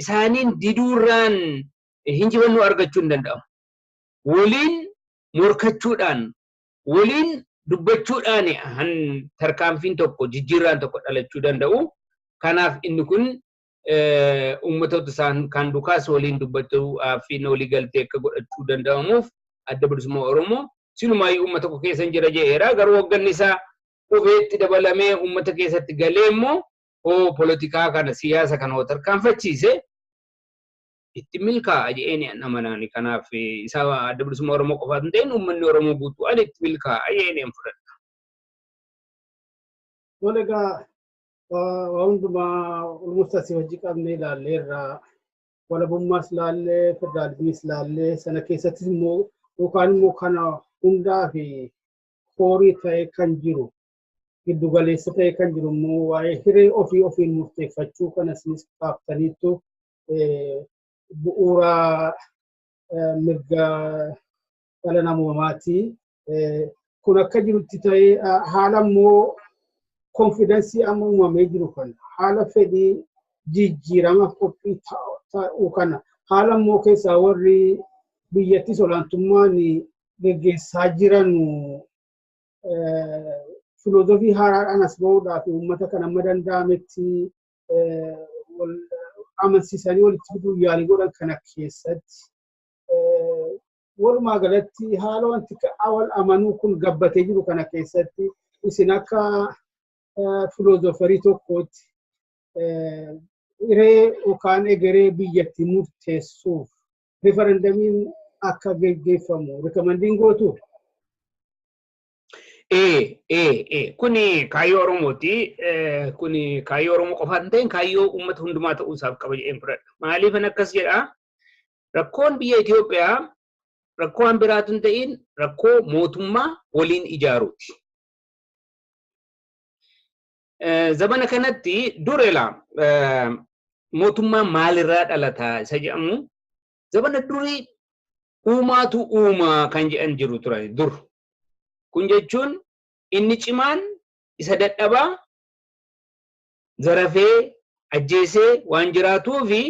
isaaniin diduurraan hinjifannoo argachuu hin danda'amu. Waliin morkachuudhaan, waliin dubbachuudhaan tarkaanfiin tokko jijjiirraan tokko dhalachuu danda'u. Kanaaf inni kun uummatoota isaan kan dukaas waliin dubbachuu fi walii galtee akka godhachuu danda'amuuf adda bilisummaa Oromoo silumaayyu uummata tokko keessa jira jedheera garuu hoogganni isaa qubeetti dabalamee uummata keessatti galee immoo hoo polotikaa kana siyaasa kana hoo tarkaanfachiise itti milkaa'a jedhee namanaani kanaaf isa adda bilisummaa Oromoo qofaatu hin ta'in uummanni Oromoo guutuu ani itti milkaa'a jedhee fudhadha. Tole egaa waa hundumaa almost asii hojii qabnee ilaallee irraa walabummaas ilaallee federaalizimiis ilaallee sana keessattis immoo yookaan immoo kana hundaa fi koorii ta'ee kan jiru giddu galeessa ta'ee kan jiru immoo waa'ee hiree ofii ofiin murteeffachuu kana isinis kaaftaniittu bu'uura mirga dhala namoomaati. Kun akka jirutti ta'ee haala immoo konfidansii amma uumamee jiru kana haala fedhii jijjiirama qophii ta'uu kana haala immoo keessaa warri biyyattis olaantummaan geggeessaa jiran filoozofii haaraadhaan as ba'uudhaaf uummata kan amma danda'ametti amansiisanii walitti fiduuf yaalii godhan kana keessatti walumaa galatti haala wanti awal amanuu kun gabbatee jiru kana keessatti isin akka filoozofarii tokkootti hiree yookaan egeree biyyatti murteessuuf rifarandamiin akka geggeeffamu rikamandiin gootu. Ee, ee, ee, kuni kaayyoo Oromooti. Eh, Kuni kaayyoo Oromoo qofaa hin ta'in kaayyoo uummata hundumaa ta'uu isaaf qaba jedheen fudhadha. Maaliifan akkas jedhaa? Rakkoon biyya Itoophiyaa rakkoo waan biraa utuu hin ta'iin rakkoo mootummaa waliin ijaaruuti. Zamana kanatti dur elaa mootummaa maalirraa dhalata isa jedhamu zamana durii uumaatu uumaa kan jedhan jiru turan dur. Kun jechuun inni cimaan isa dadhabaa zarafee, ajjeesee waan jiraatuufi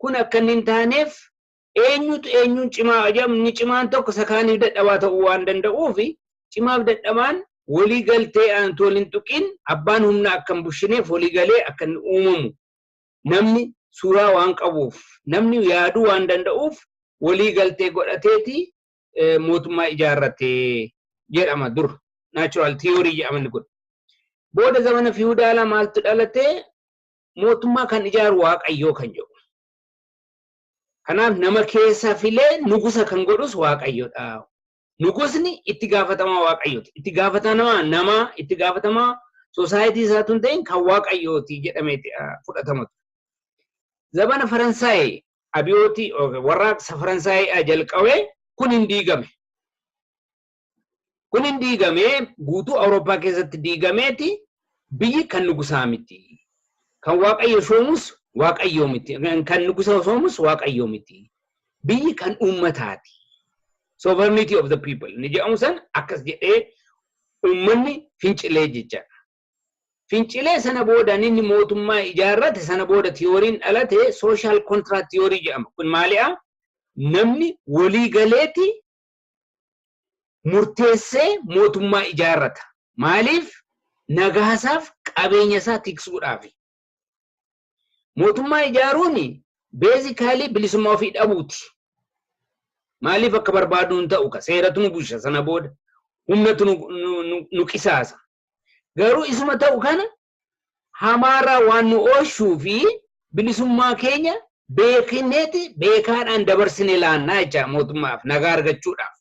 kun akka inni hin taaneef eenyutu eenyuun cimaa haa jedhamu inni cimaan tokko isa kaaniif dadhabaa ta'uu waan danda'uufi cimaaf dadhabaan walii galtee aantu wal hin tuqiin abbaan humna akka hin bushineef walii galee akka inni uumamu namni suuraa waan qabuuf namni yaaduu waan danda'uuf walii galtee godhateeti eh, mootummaa ijaarrate jedhama dur natural theory jedhaman kun booda zamana fiwudaalaa maaltu dhalate mootummaa kan ijaaru waaqayyoo kan jedhu kanaaf nama keessa filee nugusa kan godhus waaqayyodha nugusni itti gaafatamaa waaqayyooti itti gaafatamaa namaa itti gaafatamaa soosaayitii isaa tun ta'in kan waaqayyooti jedhameeti ah, fudhatama ture. zabana faransaay abiyootii yookiin warraaqsa Faransaayii jalqabe kun hin diigame. Kun hin diigamee guutuu Awurooppaa keessatti diigameeti biyyi kan nugusaa miti. Kan waaqayyo soomus waaqayyoo miti. Kan nugusa soomus waaqayyoo miti. Biyyi kan uummataati. Sovereignty of the people ni jedhamu san akkas jedhee uummanni fincilee jechaadha. Fincilee sana booda ninni mootummaa ijaarrate sana booda tiyooriin dhalate social contract theory jedhama. Kun maali'a? Namni walii galeeti murteessee mootummaa ijaarrata. Maaliif? Nagaasaaf qabeenya isaa tiksuudhaafi. Mootummaa ijaaruun beezikaalii bilisummaa ofii dhabuuti. Maaliif akka barbaadu hin ta'u ka seeratu nu busha sana booda humnatu nu qisaasa. Garuu isuma ta'u kana hamaarraa waan nu oolchuu fi bilisummaa keenya beekneeti beekaadhaan dabarsine laannaa jecha mootummaaf nagaa argachuudhaaf.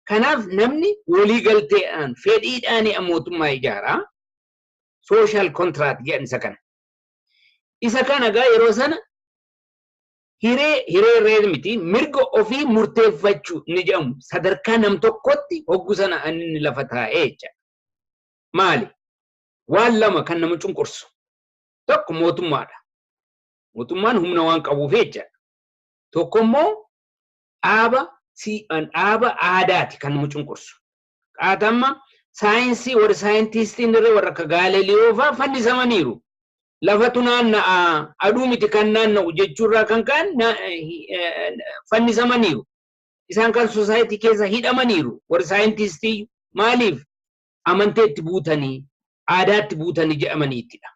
Kanaaf namni walii galteedhaan fedhiidhaan mootummaa ijaaraa sooshaal kontiraat jedhan isa kana. Isa kana egaa yeroo sana hiree, hiree real miti, mirga ofii murteeffachuu inni jedhamu sadarkaa nam-tokkootti hoggu sana kan inni lafa taa'e jecha. Maali? Waan lama kan nama cunqursu. Tokko mootummaadha. Mootummaan humna waan qabuuf jecha. Tokko immoo dhaaba si- dhaaba aadaati kan nama cunqursu. qaatamma saayinsii warri saayintiistiin irra warra akka Gaaleliyoo fa'aa fannisamaniiru. Lafatu naanna'a aduu miti kan naanna'u jechuurraa kan ka'an fannisamaniiru. Isaan kan sosaayitii keessa hidhamaniiru warri saayintiistii maaliif amanteetti buutanii aadaatti buutanii jedhamaniittidha.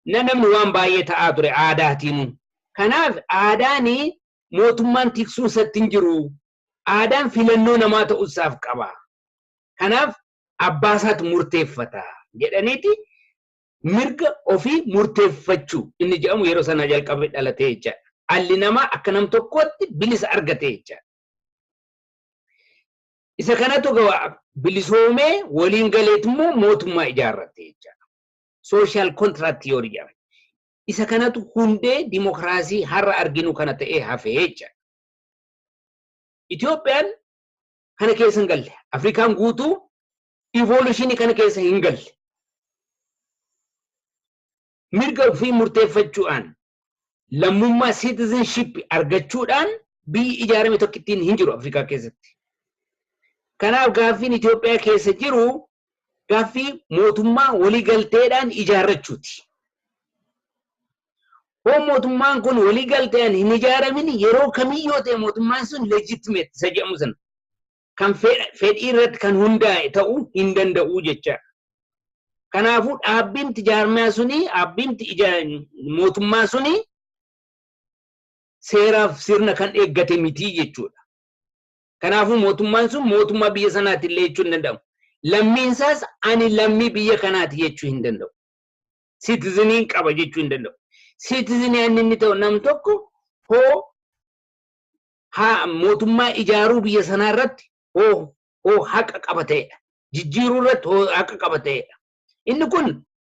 Na namni waan baay'ee ta'aa ture aadaatiinuu. Kanaaf aadaanii mootummaan tiksuun isatti hin jiru. Aadaan filannoo namaa ta'uusaaf qaba. Kanaaf abbaasaatu murteeffata jedhaniiti mirga ofii murteeffachuu inni jedhamu yeroo sanaa jalqabee dhalatee jechaadha. Dhalli namaa akka nam tokkootti bilisa argatee jechaadha. Isa kanatu gawa bilisoomee waliin galeet immoo mootummaa ijaarrate jechaadha. Social contract theory jedhama. Isa kanatu hundee dimokiraasii har'a arginu kana ta'ee hafee jechaadha. Itoophiyaan kana keessa hin galle. Afrikaan guutuu evolutionii kana keessa hin galle. Mirga ofii murteeffachuudhaan lammummaa citizenship argachuudhaan biyyi ijaarame tokkittiin hin jiru Afrikaa keessatti. Kanaaf gaaffiin Itoophiyaa keessa jiru gaaffii mootummaa waliigalteedhaan ijaarrachuuti. Hoo mootummaan kun waliigalteedhaan hin ijaaramin yeroo kamii yoo ta'e mootummaan sun legitimate isa jedhamu sana kan fedhii irratti kan hundaa'e ta'uu hin danda'u jecha. Kanaafuu dhaabbimti jaarmiyaa suni dhaabbimti mootummaa suni seeraaf sirna kan eeggate miti jechuudha. Kanaafuu mootummaan sun mootummaa biyya sanaati illee jechuu hin danda'amu. Lammiin isaas ani lammii biyya kanaati jechuu hin danda'u. Siitiziniin qaba jechuu hin danda'u. Siitizinii inni inni ta'u nam tokko hoo haa mootummaa ijaaruu biyya sanaa irratti hoo hoo haqa qaba ta'edha. Jijjiiruu irratti hoo haqa qaba ta'edha. Inni kun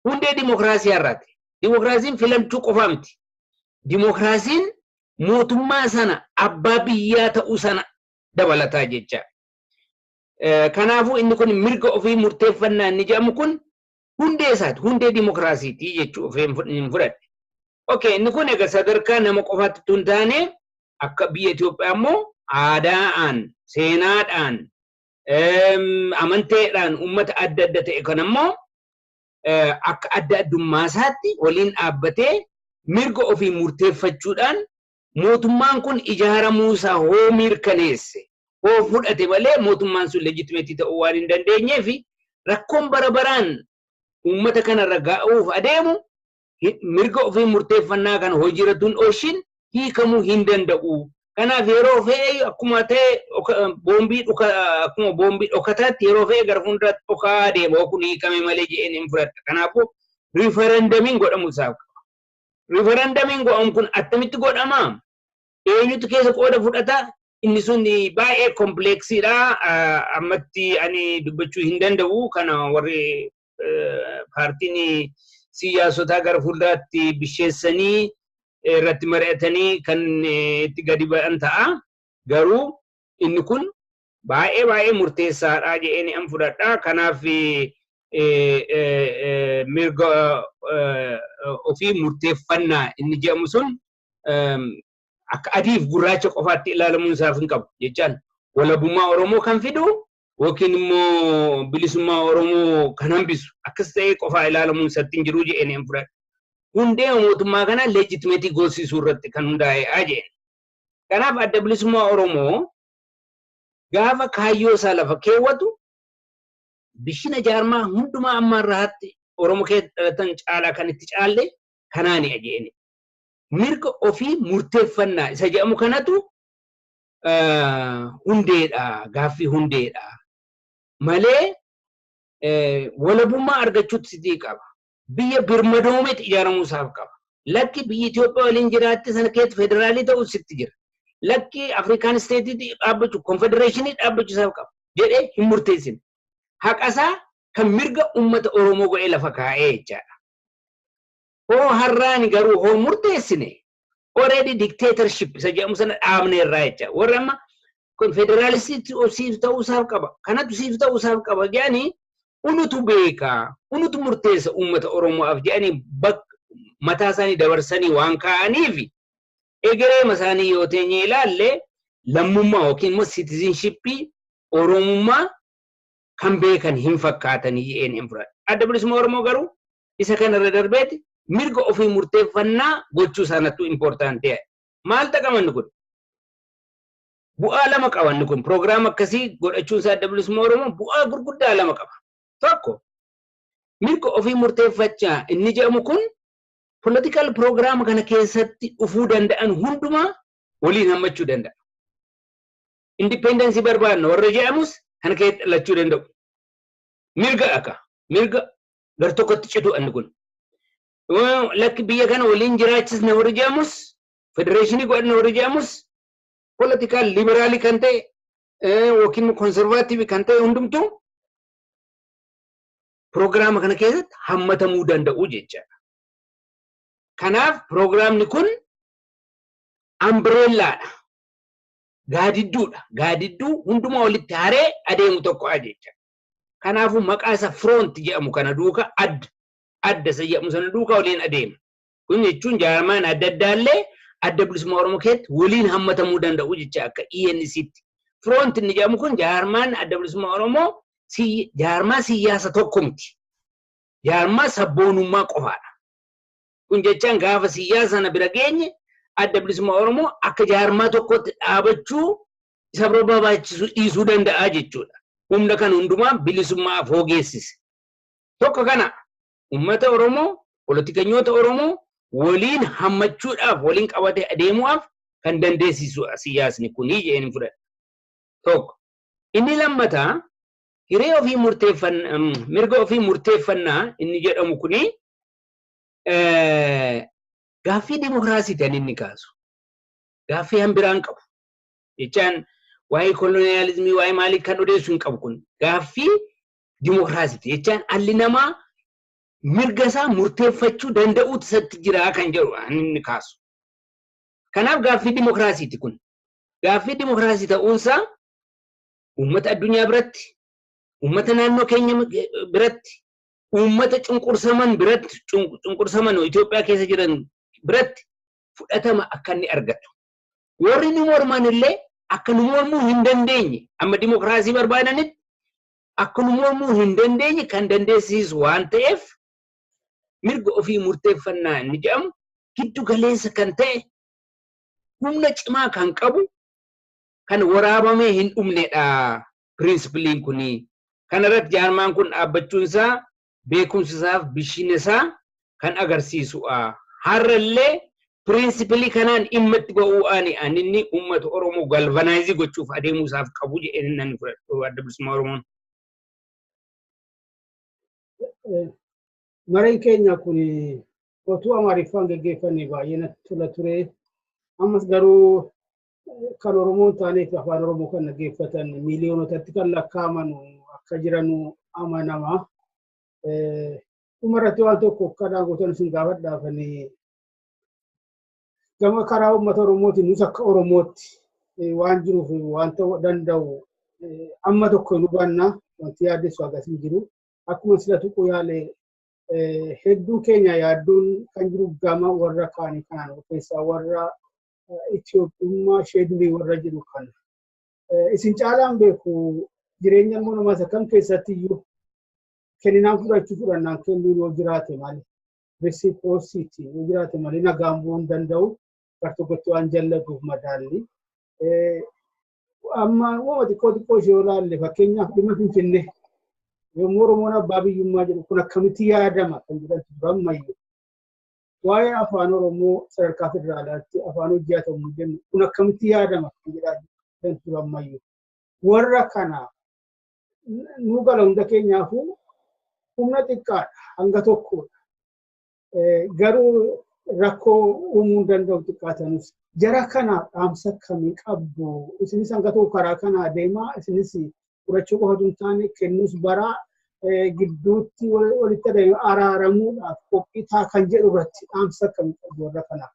hundee dimokiraasiyaa irraati. Dimokiraasiin filachuu qofaa miti. Dimokiraasiin mootummaa sana abbaa biyyaa ta'uu sana dabalataa jecha. Kanaafuu inni kun mirga ofii murteeffannaa inni jedhamu kun hundee isaati. Hundee dimokiraasiiti jechuu ofii hin fudhadhe. Okee inni kun egaa sadarkaa nama qofaatti utuu hin taane akka biyya Itoophiyaa immoo aadaadhaan, seenaadhaan, amanteedhaan uummata adda adda ta'e kan ammoo akka adda addummaa isaatti waliin dhaabbatee mirga ofii murteeffachuudhaan mootummaan kun ijaaramuu isaa hoo mirkaneesse hoo fudhate malee mootummaan sun leejitimeetii ta'uu waan hin dandeenyeef rakkoon bara baraan uummata kanarra ga'uuf adeemu hi- mirga ofii murteeffannaa kana hojiirratti hin oolchin hiikamuu hin danda'u. Kanaaf yeroo fe'e akkuma ta'e dhoka- boombii dhuka- akkuma boombii dhokataatti yeroo fe'e gara fuulduraatti dhokaa deema yoo kun hiikame malee jedheen hin fudhadha. Kanaafuu riifarandamiin godhamu isaaf qaba. Riifarandamiin godhamu kun attamitti godhama? Eenyutu keessa qooda fudhata? Inni sun baay'ee kompleeksiidha. Ammatti ani dubbachuu hin danda'u. Kana warri paartiin siyaasotaa gara fuulduraatti bisheessanii irratti mari'atanii kan itti gadi ba'an ta'a. Garuu inni kun baay'ee baay'ee murteessaadha jedheen an fudhadha. Kanaaf mirga ofii murteeffannaa inni jedhamu sun akka adiif gurraacha qofaatti ilaalamuun isaaf hin qabu jechaan walabummaa Oromoo kan fidu yookiin immoo bilisummaa Oromoo kan hambisu akkas ta'ee qofaa ilaalamuun isatti hin jiru jedheen hin fudhadhu. Hundee mootummaa kana leejitimeetii goosisuu irratti kan hundaa'eedha jedheen. Kanaaf adda bilisummaa Oromoo gaafa kaayyoo isaa lafa keewwatu bishina jaarmaa hundumaa amma irraatti Oromoo keessa dhalatan caalaa kan itti caalle kanaani jedheen. Mirga ofii murteeffannaa isa jedhamu kanatu hundeedha gaaffii hundeedha malee walabummaa argachuutti sitii qaba. Biyya birmadoometti ijaaramuu isaaf qaba. Lakki biyyi Itoophiyaa waliin jiraatti sana keessatti federaalii ta'uu sitti jira. Lakki Afrikaan isteetiitti dhaabbachuu konfedereeshinii dhaabbachuu isaaf qaba jedhee hin murteessine. Haqasaa kan mirga uummata Oromoo godhee lafa kaa'ee jechaadha. Hoo har'aani garuu hoo murteessine already dictatorship isa jedhamu sana dhaabne irraa jecha warri amma kun federaalistiitti siif ta'uu isaaf qaba kanatu siif ta'uu isaaf qaba jedhanii unutu beeka unutu murteessa uummata Oromoof jedhanii bak mataa isaanii dabarsanii waan kaa'aniif egereema isaanii yoo teenye ilaalle lammummaa yookiin immoo citizenshipii Oromummaa kan beekan hin fakkaatani ENM fudhadha. Adda Bilisummaa Oromoo garuu isa kana irra darbeeti mirga ofii murteeffannaa gochuu isaanattuu important ta'e. Maal xaqama inni kun? Bu'aa lama qaba inni kun. Program akkasii godhachuun isaa Adda Bilisummaa Oromoo bu'aa gurguddaa lama qaba. Tokko mirga ofii murteeffachaa inni jedhamu kun political program kana keessatti dhufuu danda'an hundumaa waliin hammachuu danda'a. independence barbaanna warra jedhamus kana keessatti dhalachuu danda'u. Mirga akka mirga gar tokkotti citu anni kun. Yoo Lakki biyya kana waliin jiraachisna warri jedhamus federeeshinii godhanna warri jedhamus politikaal liberaalii kan ta'e eh, yookiin konservaatiivii kan ta'e hundumtuu piroogiraama kana keessatti hammatamuu danda'u jechaadha. Kanaaf piroogiraamni kun ambireellaadha. gaadidduudha. Gaadidduu hundumaa walitti haree adeemu tokkodha jecha. Kanaafuu maqaa isa firoonti jedhamu kana duuka adda adda isa jedhamu sana duuka waliin adeema. Kun jechuun jaarmaan adda addaallee adda bilisummaa Oromoo keessatti waliin hammatamuu danda'u jecha akka ENCtti. Firoonti inni jedhamu kun jaarmaan adda bilisummaa Oromoo jaarmaa siyyaasa tokko miti. Jaarmaa sabboonummaa qofaadha. Kun jechaan gaafa siyyaa sana bira geenye adda bilisummaa Oromoo akka jaarmaa tokkotti dhaabachuu isa barbaachisu dhiisuu danda'a jechuudha. Humna kan hundumaa bilisummaa afoo geessise. Tokko kana uummata Oromoo, politikanyoota Oromoo waliin hammachuudhaaf waliin qabatee adeemu'aaf kan dandeessisuudha siyyaasni kunii jedheen hin fudhadha. Tokko. Inni lammataa hiree ofii murteeffannaa mirga ofii murteeffannaa inni jedhamu kunii gaaffii dimokiraasiiti kan inni kaasu. Gaaffii hambiraan hin qabu. Jechaan waa'ee koloniyaalizimii waa'ee maalii kan odeessu hin qabu kun. Gaaffii dimokiraasiiti. Jechaan alli namaa mirga isaa murteeffachuu danda'uutu isatti jira kan jedhu kan inni kaasu. Kanaaf gaaffii dimokiraasiiti kun. Gaaffii dimokiraasii ta'uunsaa uummata addunyaa biratti, uummata naannoo keenya biratti, uummata cunqursaman biratti cunqursaman Itoophiyaa keessa jiran biratti fudhatama akka inni argatu. Warri nu morman illee akka nu mormuu hin dandeenye amma dimokiraasii barbaadanitti akka nu mormuu hin dandeenye kan dandeessisu waan ta'eef mirga ofii murteeffannaa inni jedhamu giddu galeessa kan ta'e humna cimaa kan qabu kan waraabamee hin dhumnedha pirinsipiliin kuni. Kana irratti jaarmaan kun dhaabbachuun isaa beekumsa isaa fi bilchina isaa kan agarsiisu'a. Har'a illee pirinsipilii kanaan dhimma itti ba'u'aani an inni uummata Oromoo galvanaayizi gochuuf adeemuu isaaf qabu jedheen nan fudhadhu Adda Bilisummaa Oromoon. Mareen keenya kun otuu Amaariffaan geggeeffannee baay'ee natti tola ture. Ammas garuu kan Oromoo hin taaneef afaan Oromoo kan dhaggeeffatan miiliyoonotatti kan lakkaa'aman akka jiran amanama. Dhumarratti waan tokko akka daangootan isin gaafadhaaf gama karaa uummata Oromootiin nus akka Oromootti waan jiruuf waan ta'uu danda'u amma tokko hin hubanna wanti yaaddessu akkasii jiru. Akkuma sila tuquu yaale hedduu keenya yaaddoon kan jiru gama warra kaanii kanaan keessaa warra Itoophiyummaa ishee durii warra jiru kana. Isin caalaan beeku jireenya ilmoo namaa isa kam keessatti iyyuu kenninaan fudhachuu fudhannaan kennuu yoo jiraate malee resiprocity yoo jiraate malee nagaan bu'uu hin danda'u gar tokkotti waan jallatuuf madaalli. Amma uumama xiqqoo xiqqoo ishee yoo ilaalle fakkeenyaaf dhimma Finfinnee yommuu Oromoon abbaa biyyummaa jedhu kun akkamitti yaadama kan jedhamtu ammayyu. Waa'ee afaan Oromoo sadarkaa federaalaatti afaan hojii haa ta'u jennu kun akkamitti yaadama kan jedhaa kan ture ammayyu. Warra kana nu gala hunda keenyaafuu humna xiqqaadha hanga tokkodha. Garuu rakkoo uumuu danda'u xiqqaatanis jara kanaaf dhaamsa akkamii qabdu isinis hanga tokko karaa kanaa deemaa isinis fudhachuu qofa osoo hin taane kennuus baraa gidduutti walitti adeemu araaramuudhaaf qophii taa kan jedhu irratti dhaamsa akkamii qabdu warra kanaaf.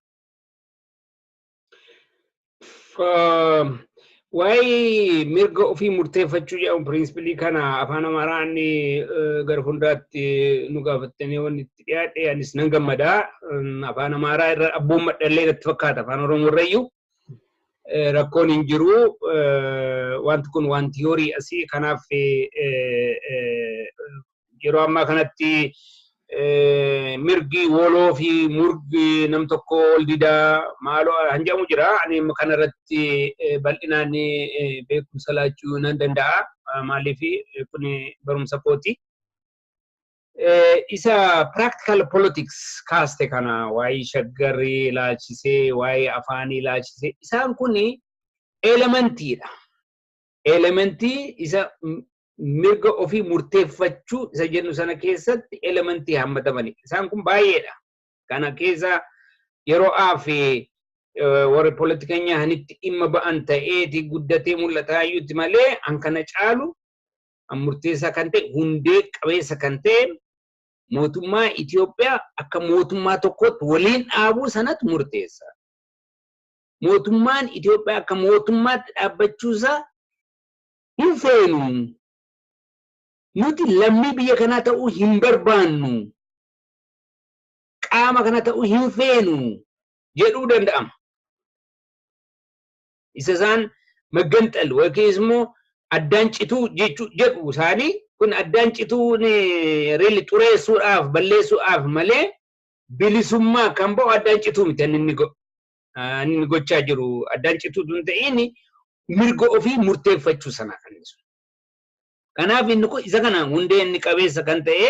Waa'ee mirga ofii murteeffachuu jedhamu piriinsippilii kana afaan Amaaraan gara fuulduraatti nu gaafattanii wanti itti dhiyaadhe anis nan gammada. Afaan Amaaraa irra abboon madhallee natti fakkaata afaan Oromoo irrayyuu. rakkoon hin jiru. Wanti kun waan tiyoorii asii kanaaf yeroo ammaa kanatti mirgi woloo fi murgi nam tokko ol didaa maaloo kan jedhamu jira. Ani kana irratti bal'inaan beekumsa laachuu nan danda'a. Maaliif kun barumsa kooti. Isa practical politics kaaste kana waa'ee shaggarrii ilaalchisee waa'ee afaanii ilaalchisee isaan kun elementiidha. Elementii isa mirga ofii murteeffachuu isa jennu sana keessatti elementii hammatamanidha. Isaan kun baay'eedha. Kana keessa yeroo aafi warri politikanyaa hanitti dhimma ba'an ta'eeti guddatee mul'ataa iyyuutti malee an kana caalu murteessaa kan ta'e hundee qabeessa kan ta'e mootummaa Itoophiyaa akka mootummaa tokkootti waliin dhaabuu sanatu murteessa. Mootummaan Itoophiyaa akka mootummaatti dhaabbachuusaa hin feenu. Nuti lammii biyya kanaa ta'uu hin barbaannu. Qaama kana ta'uu hin feenu jedhuu danda'ama. isa isaan magganxal yookiis immoo addaan cituu jechuu jedhu isaanii kun addaan cituun reelli xureessuudhaaf balleessuudhaaf malee bilisummaa kan ba'u addaan cituu miti inni inni go- ah, inni gochaa jiru addaan cituu tun ta'in mirga ofii murteeffachuu sana kan ibsu. Kanaaf inni kun isa kana hundee inni qabeessa kan ta'e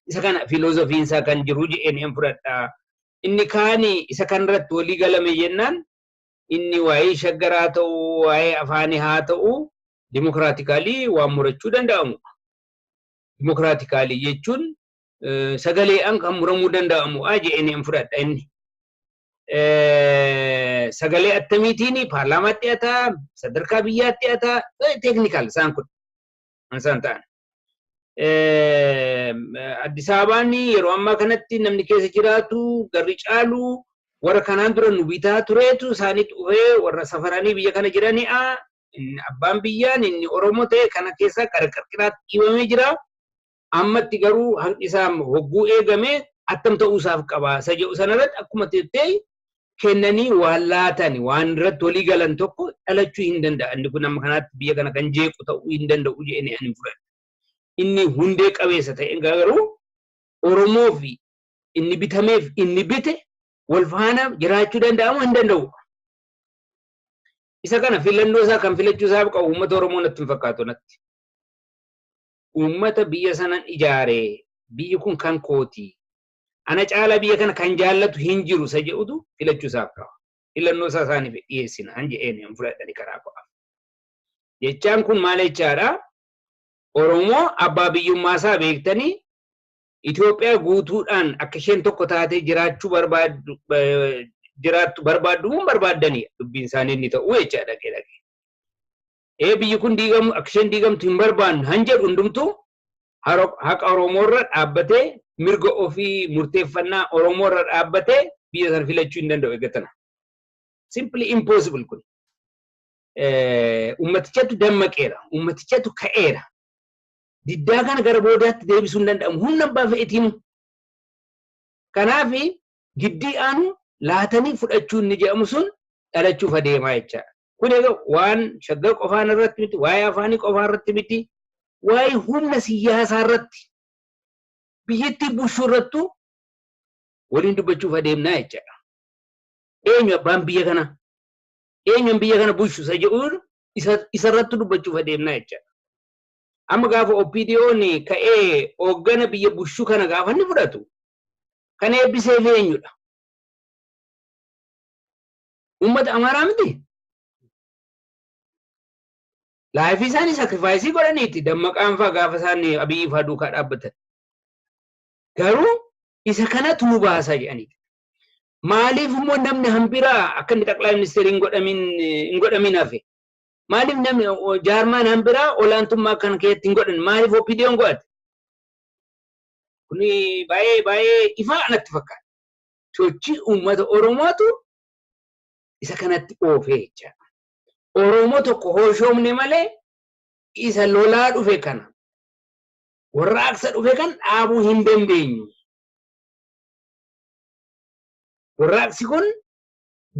isa kana filoozofiin isaa kan jiru jedheen hin fudhadha. Inni kaani isa kanarratti walii galame jennaan inni waa'ee shaggar haa ta'u waa'ee afaanii haa ta'u dimokiraatikaalii waan murachuu danda'amu dimokiraatikaalii jechuun sagaleedhaan kan muramuu danda'amu jedheen hin fudhadha inni. Sagalee attamiitiin paarlaamaatti hataa sadarkaa biyyaatti hataa teeknikaal isaan kun isaan ta'an. Addis Ababaan yeroo ammaa kanatti namni keessa jiraatu garri caalu warra kanaan dura nu bitaa tureetu isaanii dhufee warra safaranii biyya kana jirani'a. Abbaan biyyaan inni Oromoo ta'e kana keessaa qarqarqiraatti dhiibamee jira. Ammatti garuu hanqi isaa hogguu eegame attam ta'uu isaaf qaba. Isa jedhu sanarratti akkuma teettee kennanii waan laatan waan irratti walii galan tokko dhalachuu hin danda'a. Inni kun amma kanaatti biyya kana kan jeequ ta'uu hin danda'u jedhanii ani fudhadha. Inni hundee qabeessa ta'e garuu Oromoo fi inni bitameef inni bite wal faana jiraachuu danda'amu hin danda'u. Isa kana filannoo isaa kan filachuu isaa qabu uummata Oromoo natti hin fakkaatu natti. Uummata biyya sanan ijaaree biyyi kun kan kooti ana caalaa biyya kana kan jaallatu hin jiru isa jedhutu filachuu isaaf ta'a. Filannoo isaa isaaniif dhiyeessinaan jedheen hin fudhadhani karaa ko'aaf. Jechaan kun maal jechaadha? Oromoo abbaa biyyummaa isaa beektanii Itoophiyaa guutuudhaan akka isheen tokko taatee jiraachuu barbaaddu jiraattu barbaaddu moo barbaaddanidha dubbiin isaanii inni ta'u jechaadha dhaqee dhaqee. ee biyyi kun diigamu akka isheen diigamtu hin barbaannu han jedhu hundumtuu haro- haqa Oromoorra dhaabbatee mirga ofii murteeffannaa Oromoorra dhaabbatee biyya sana filachuu hin danda'u eeggatana. Simply impossible kun. Eh, Ummatichatu dammaqeera, ummatichatu ka'eera. Diddaa kana gara boodaatti deebisuu hin danda'amu. Humna abbaa fe'etiinu. Kanaaf giddii aanu laatanii fudhachuun ni jedhamu sun dhalachuuf adeemaa jechaadha. Kun egaa waan shaggar qofaan irratti miti, waa'ee afaanii qofaa irratti miti, waa'ee humna siyyaasaa irratti biyyattii bulchuu irrattu waliin dubbachuuf adeemnaa jechaadha. Eenyu abbaan biyya kana? Eenyuun biyya kana bulchu isa jedhuun isa isa irratti dubbachuuf adeemnaa jechaadha. Amma gaafa OPDOn ka'ee hooggana biyya bulchu kana gaafa inni fudhatu kan eebbiseef eenyudha? Uummata Amaaraa miti. Laayifii isaanii sakrifaayisii godhaniiti dammaqaan faa gaafa isaan Abiyyi faa duukaa dhaabbatan. Garuu isa kanatu nu baasa jedhanii. Maaliif immoo namni hambiraa akka inni xaqlaa ministeerii hin godhamin hin godhamin hafe? Maaliif namni jaarmaan hambiraa olaantummaa kan keessatti hin godhan? Maaliif OPDOn godhate? Kuni baay'ee baay'ee ifaa natti fakkaata. sochii uummata Oromootu isa kanatti oofee jechaadha. Oromoo tokko hooshoomne malee isa lolaa dhufe kana warraaqsa dhufe kan dhaabuu hin dandeenyu. Warraaqsi kun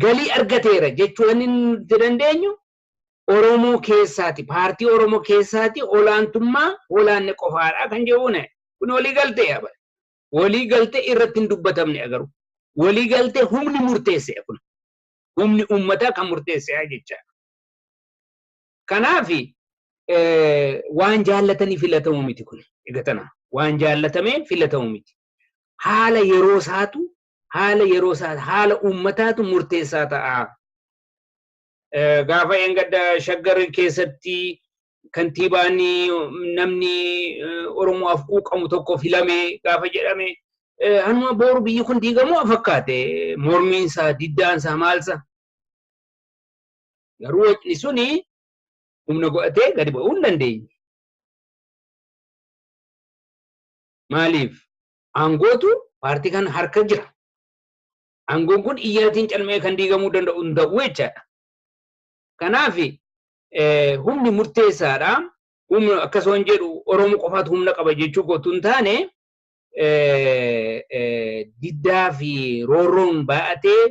galii argateera jechuu inni nuti dandeenyu Oromoo keessaati paartii Oromoo keessaati olaantummaa olaanne qofaadha kan jedhuun kun walii galteedha. Walii galtee irratti hin dubbatamne garuu. Walii galtee humni murteesse kun. Humni uummataa kan murteesseedha jechaadha. Kanaaf waan jaallatanii filatamu miti kun. Egaa tana waan jaallatamee filatamu miti. Haala yeroo isaatu haala yeroo isaa haala uummataatu murteessaa ta'a. Gaafa eengadda shaggar keessatti kantiibaan namni Oromoodhaaf quuqamu tokko filame gaafa jedhame hanuma booru biyyi kun diigamu fakkaate mormiinsaa diddaansaa maalsa. Garuu wacni suni humna godhatee gadi ba'uu hin dandeenye. Maaliif? Aangootu paartii kana harka jira. Aangoon kun iyyaatiin calma'ee kan diigamuu danda'u hin ta'u jechaadha. Kanaaf humni murteessaadha. Humna akkasumaan jedhu Oromoo qofaatu humna qaba jechuu kootu hin taane diddaa fi roorroon baay'atee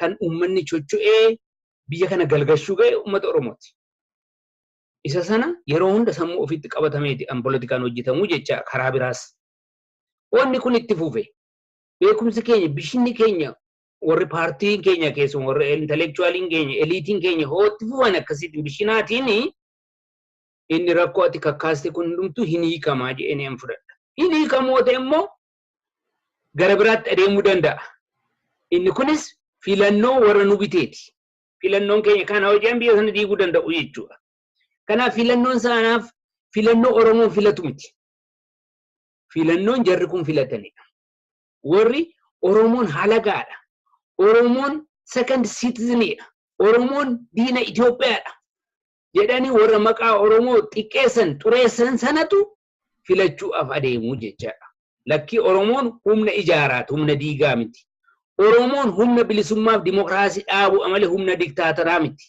kan uummanni chocho'ee biyya kana galgashuu ga'e uummata Oromooti. Isa sana yeroo hunda sammuu ofiitti qabatameeti an politikaan hojjetamu jecha karaa biraas. Wanni kun itti fufe. Beekumsi keenya, bishinni keenya warri paartiin keenya keessumaa warri intellectualiin keenya, eliitiin keenya hoo itti fufan akkasiitiin bishinaatiin inni rakkoo ati kakkaaste kun hundumtuu hin hiikamaa jedhanii an fudhadha. Hin hiikamoo ta'e immoo gara biraatti adeemuu danda'a. Inni kunis filannoo warra nu biteeti. Filannoon keenya kana hojjaan biyya sana diiguu danda'u jechuudha. Kanaaf filannoon saanaaf filannoo Oromoon filatu miti. filannoon jarri kun filatanidha. Warri Oromoon halagaadha. Oromoon second citizen dha. Oromoon diina Itoophiyaadha. jedhanii warra maqaa Oromoo xiqqeessan xureessan sanatu filachuudhaaf adeemu jechaadha. Lakkii Oromoon humna ijaaraati, humna diigaa miti. Oromoon humna bilisummaaf dimokiraasii dhaabudha malee humna diktaataraa miti.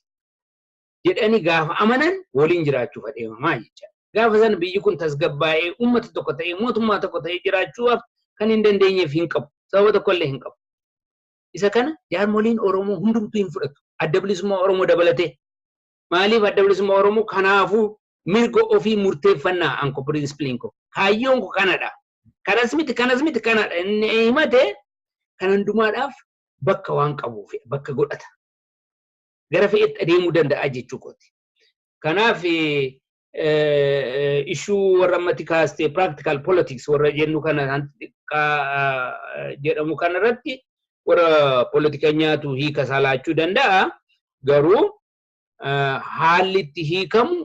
jedhanii gaafa amanan waliin jiraachuuf adeemamaa jechaadha. Gaafa sana biyyi kun tasgabbaa'ee uummata tokko ta'ee mootummaa tokko ta'ee jiraachuuf kan hin dandeenyeef hin qabu. Sababa tokkollee hin qabu. Isa kana jaarmoliin Oromoo hundumtuu hin fudhatu. Adda bilisummaa Oromoo dabalatee. Maaliif adda bilisummaa Oromoo kanaafuu mirga ofii murteeffannaa anko piriinsippiliin koo. Kaayyoon koo kanadha. Kanas miti kanas miti kanadha. Inni himate kan hundumaadhaaf bakka waan qabuuf bakka godhata. gara fe'etti adeemuu danda'a jechuu kooti. Kanaaf ishuu warra ammatti kaaste practical politics warra jennu kana hanti xiqqaa jedhamu kana irratti warra politikanyaatu hiika isaa laachuu danda'a. Garuu haalli itti hiikamu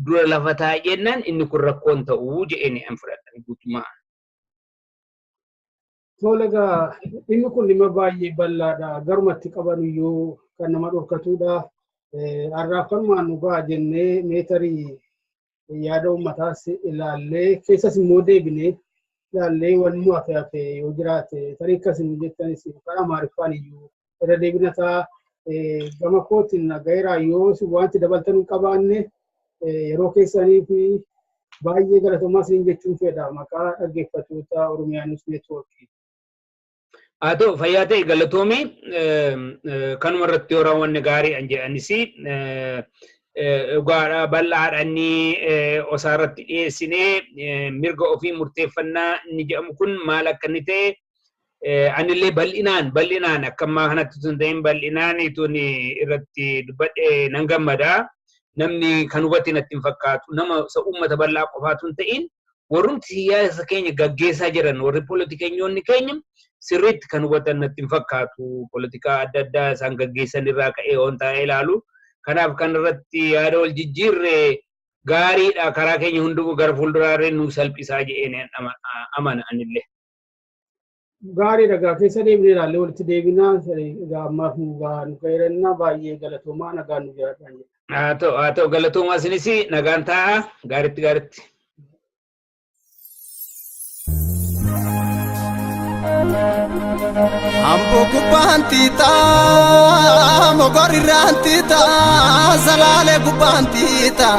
dura lafa taa'e jennaan inni kun rakkoon ta'uu jedheen hin fudhatan guutummaa. Tole egaa dhimmi kun dhimma baay'ee bal'aadha. Garuma itti qaban iyyuu kan nama dhorkatudha. Har'aaf kanumaan nu ga'a jennee meetarii yaada uummataas ilaallee keessas immoo deebinee ilaallee wanni nu hafe hafe yoo jiraate tarii akkasii nu jettanis karaa maariffaan iyyuu irra deebina ta'a. Gama kootiin nagayeeraa yoo wanti dabaltan hin qabaanne yeroo keessanii fi baay'ee galatoomaa siin jechuun fedha maqaa dhaggeeffattoota Oromiyaa News Network. Haa ta'u fayyaa ta'e galatoomii kanuma irratti yoo raawwanne gaarii an jedhanis dhugaadha bal'aadha inni osaa irratti dhiyeessinee mirga ofii murteeffannaa inni jedhamu kun maal akka inni ta'e Anillee bal'inaan bal'inaan akka ammaa kanatti tun ta'in bal'inaan tun irratti dubbadhe nan gammada. Namni kan hubate natti hin fakkaatu. Nama isa uummata bal'aa qofaa tun ta'in warrumti siyaasa keenya gaggeessaa jiran warri poolitikanyoonni keenya sirriitti kan hubatan natti hin fakkaatu. Poolitikaa adda addaa isaan gaggeessan irraa ka'ee waan taa'ee ilaalu. Kanaaf kan irratti yaada wal jijjiirre gaariidha. Karaa keenya hunduu gara fuulduraarree nu salphisaa jedheen amana anillee. Gaarii dhagaa keessa deebinee ilaallee walitti deebinaa egaa ammaaf nu gahaa nu gaheerannaa baay'ee galatoomaa nagaan nu jiraadhaan jedha. Haa ta'u haa ta'u galatoomaa isinis nagaan taa'aa gaaritti gaaritti. Ambo gubbaan tiitaa, mogorri irraan tiitaa, salaale gubbaan tiitaa.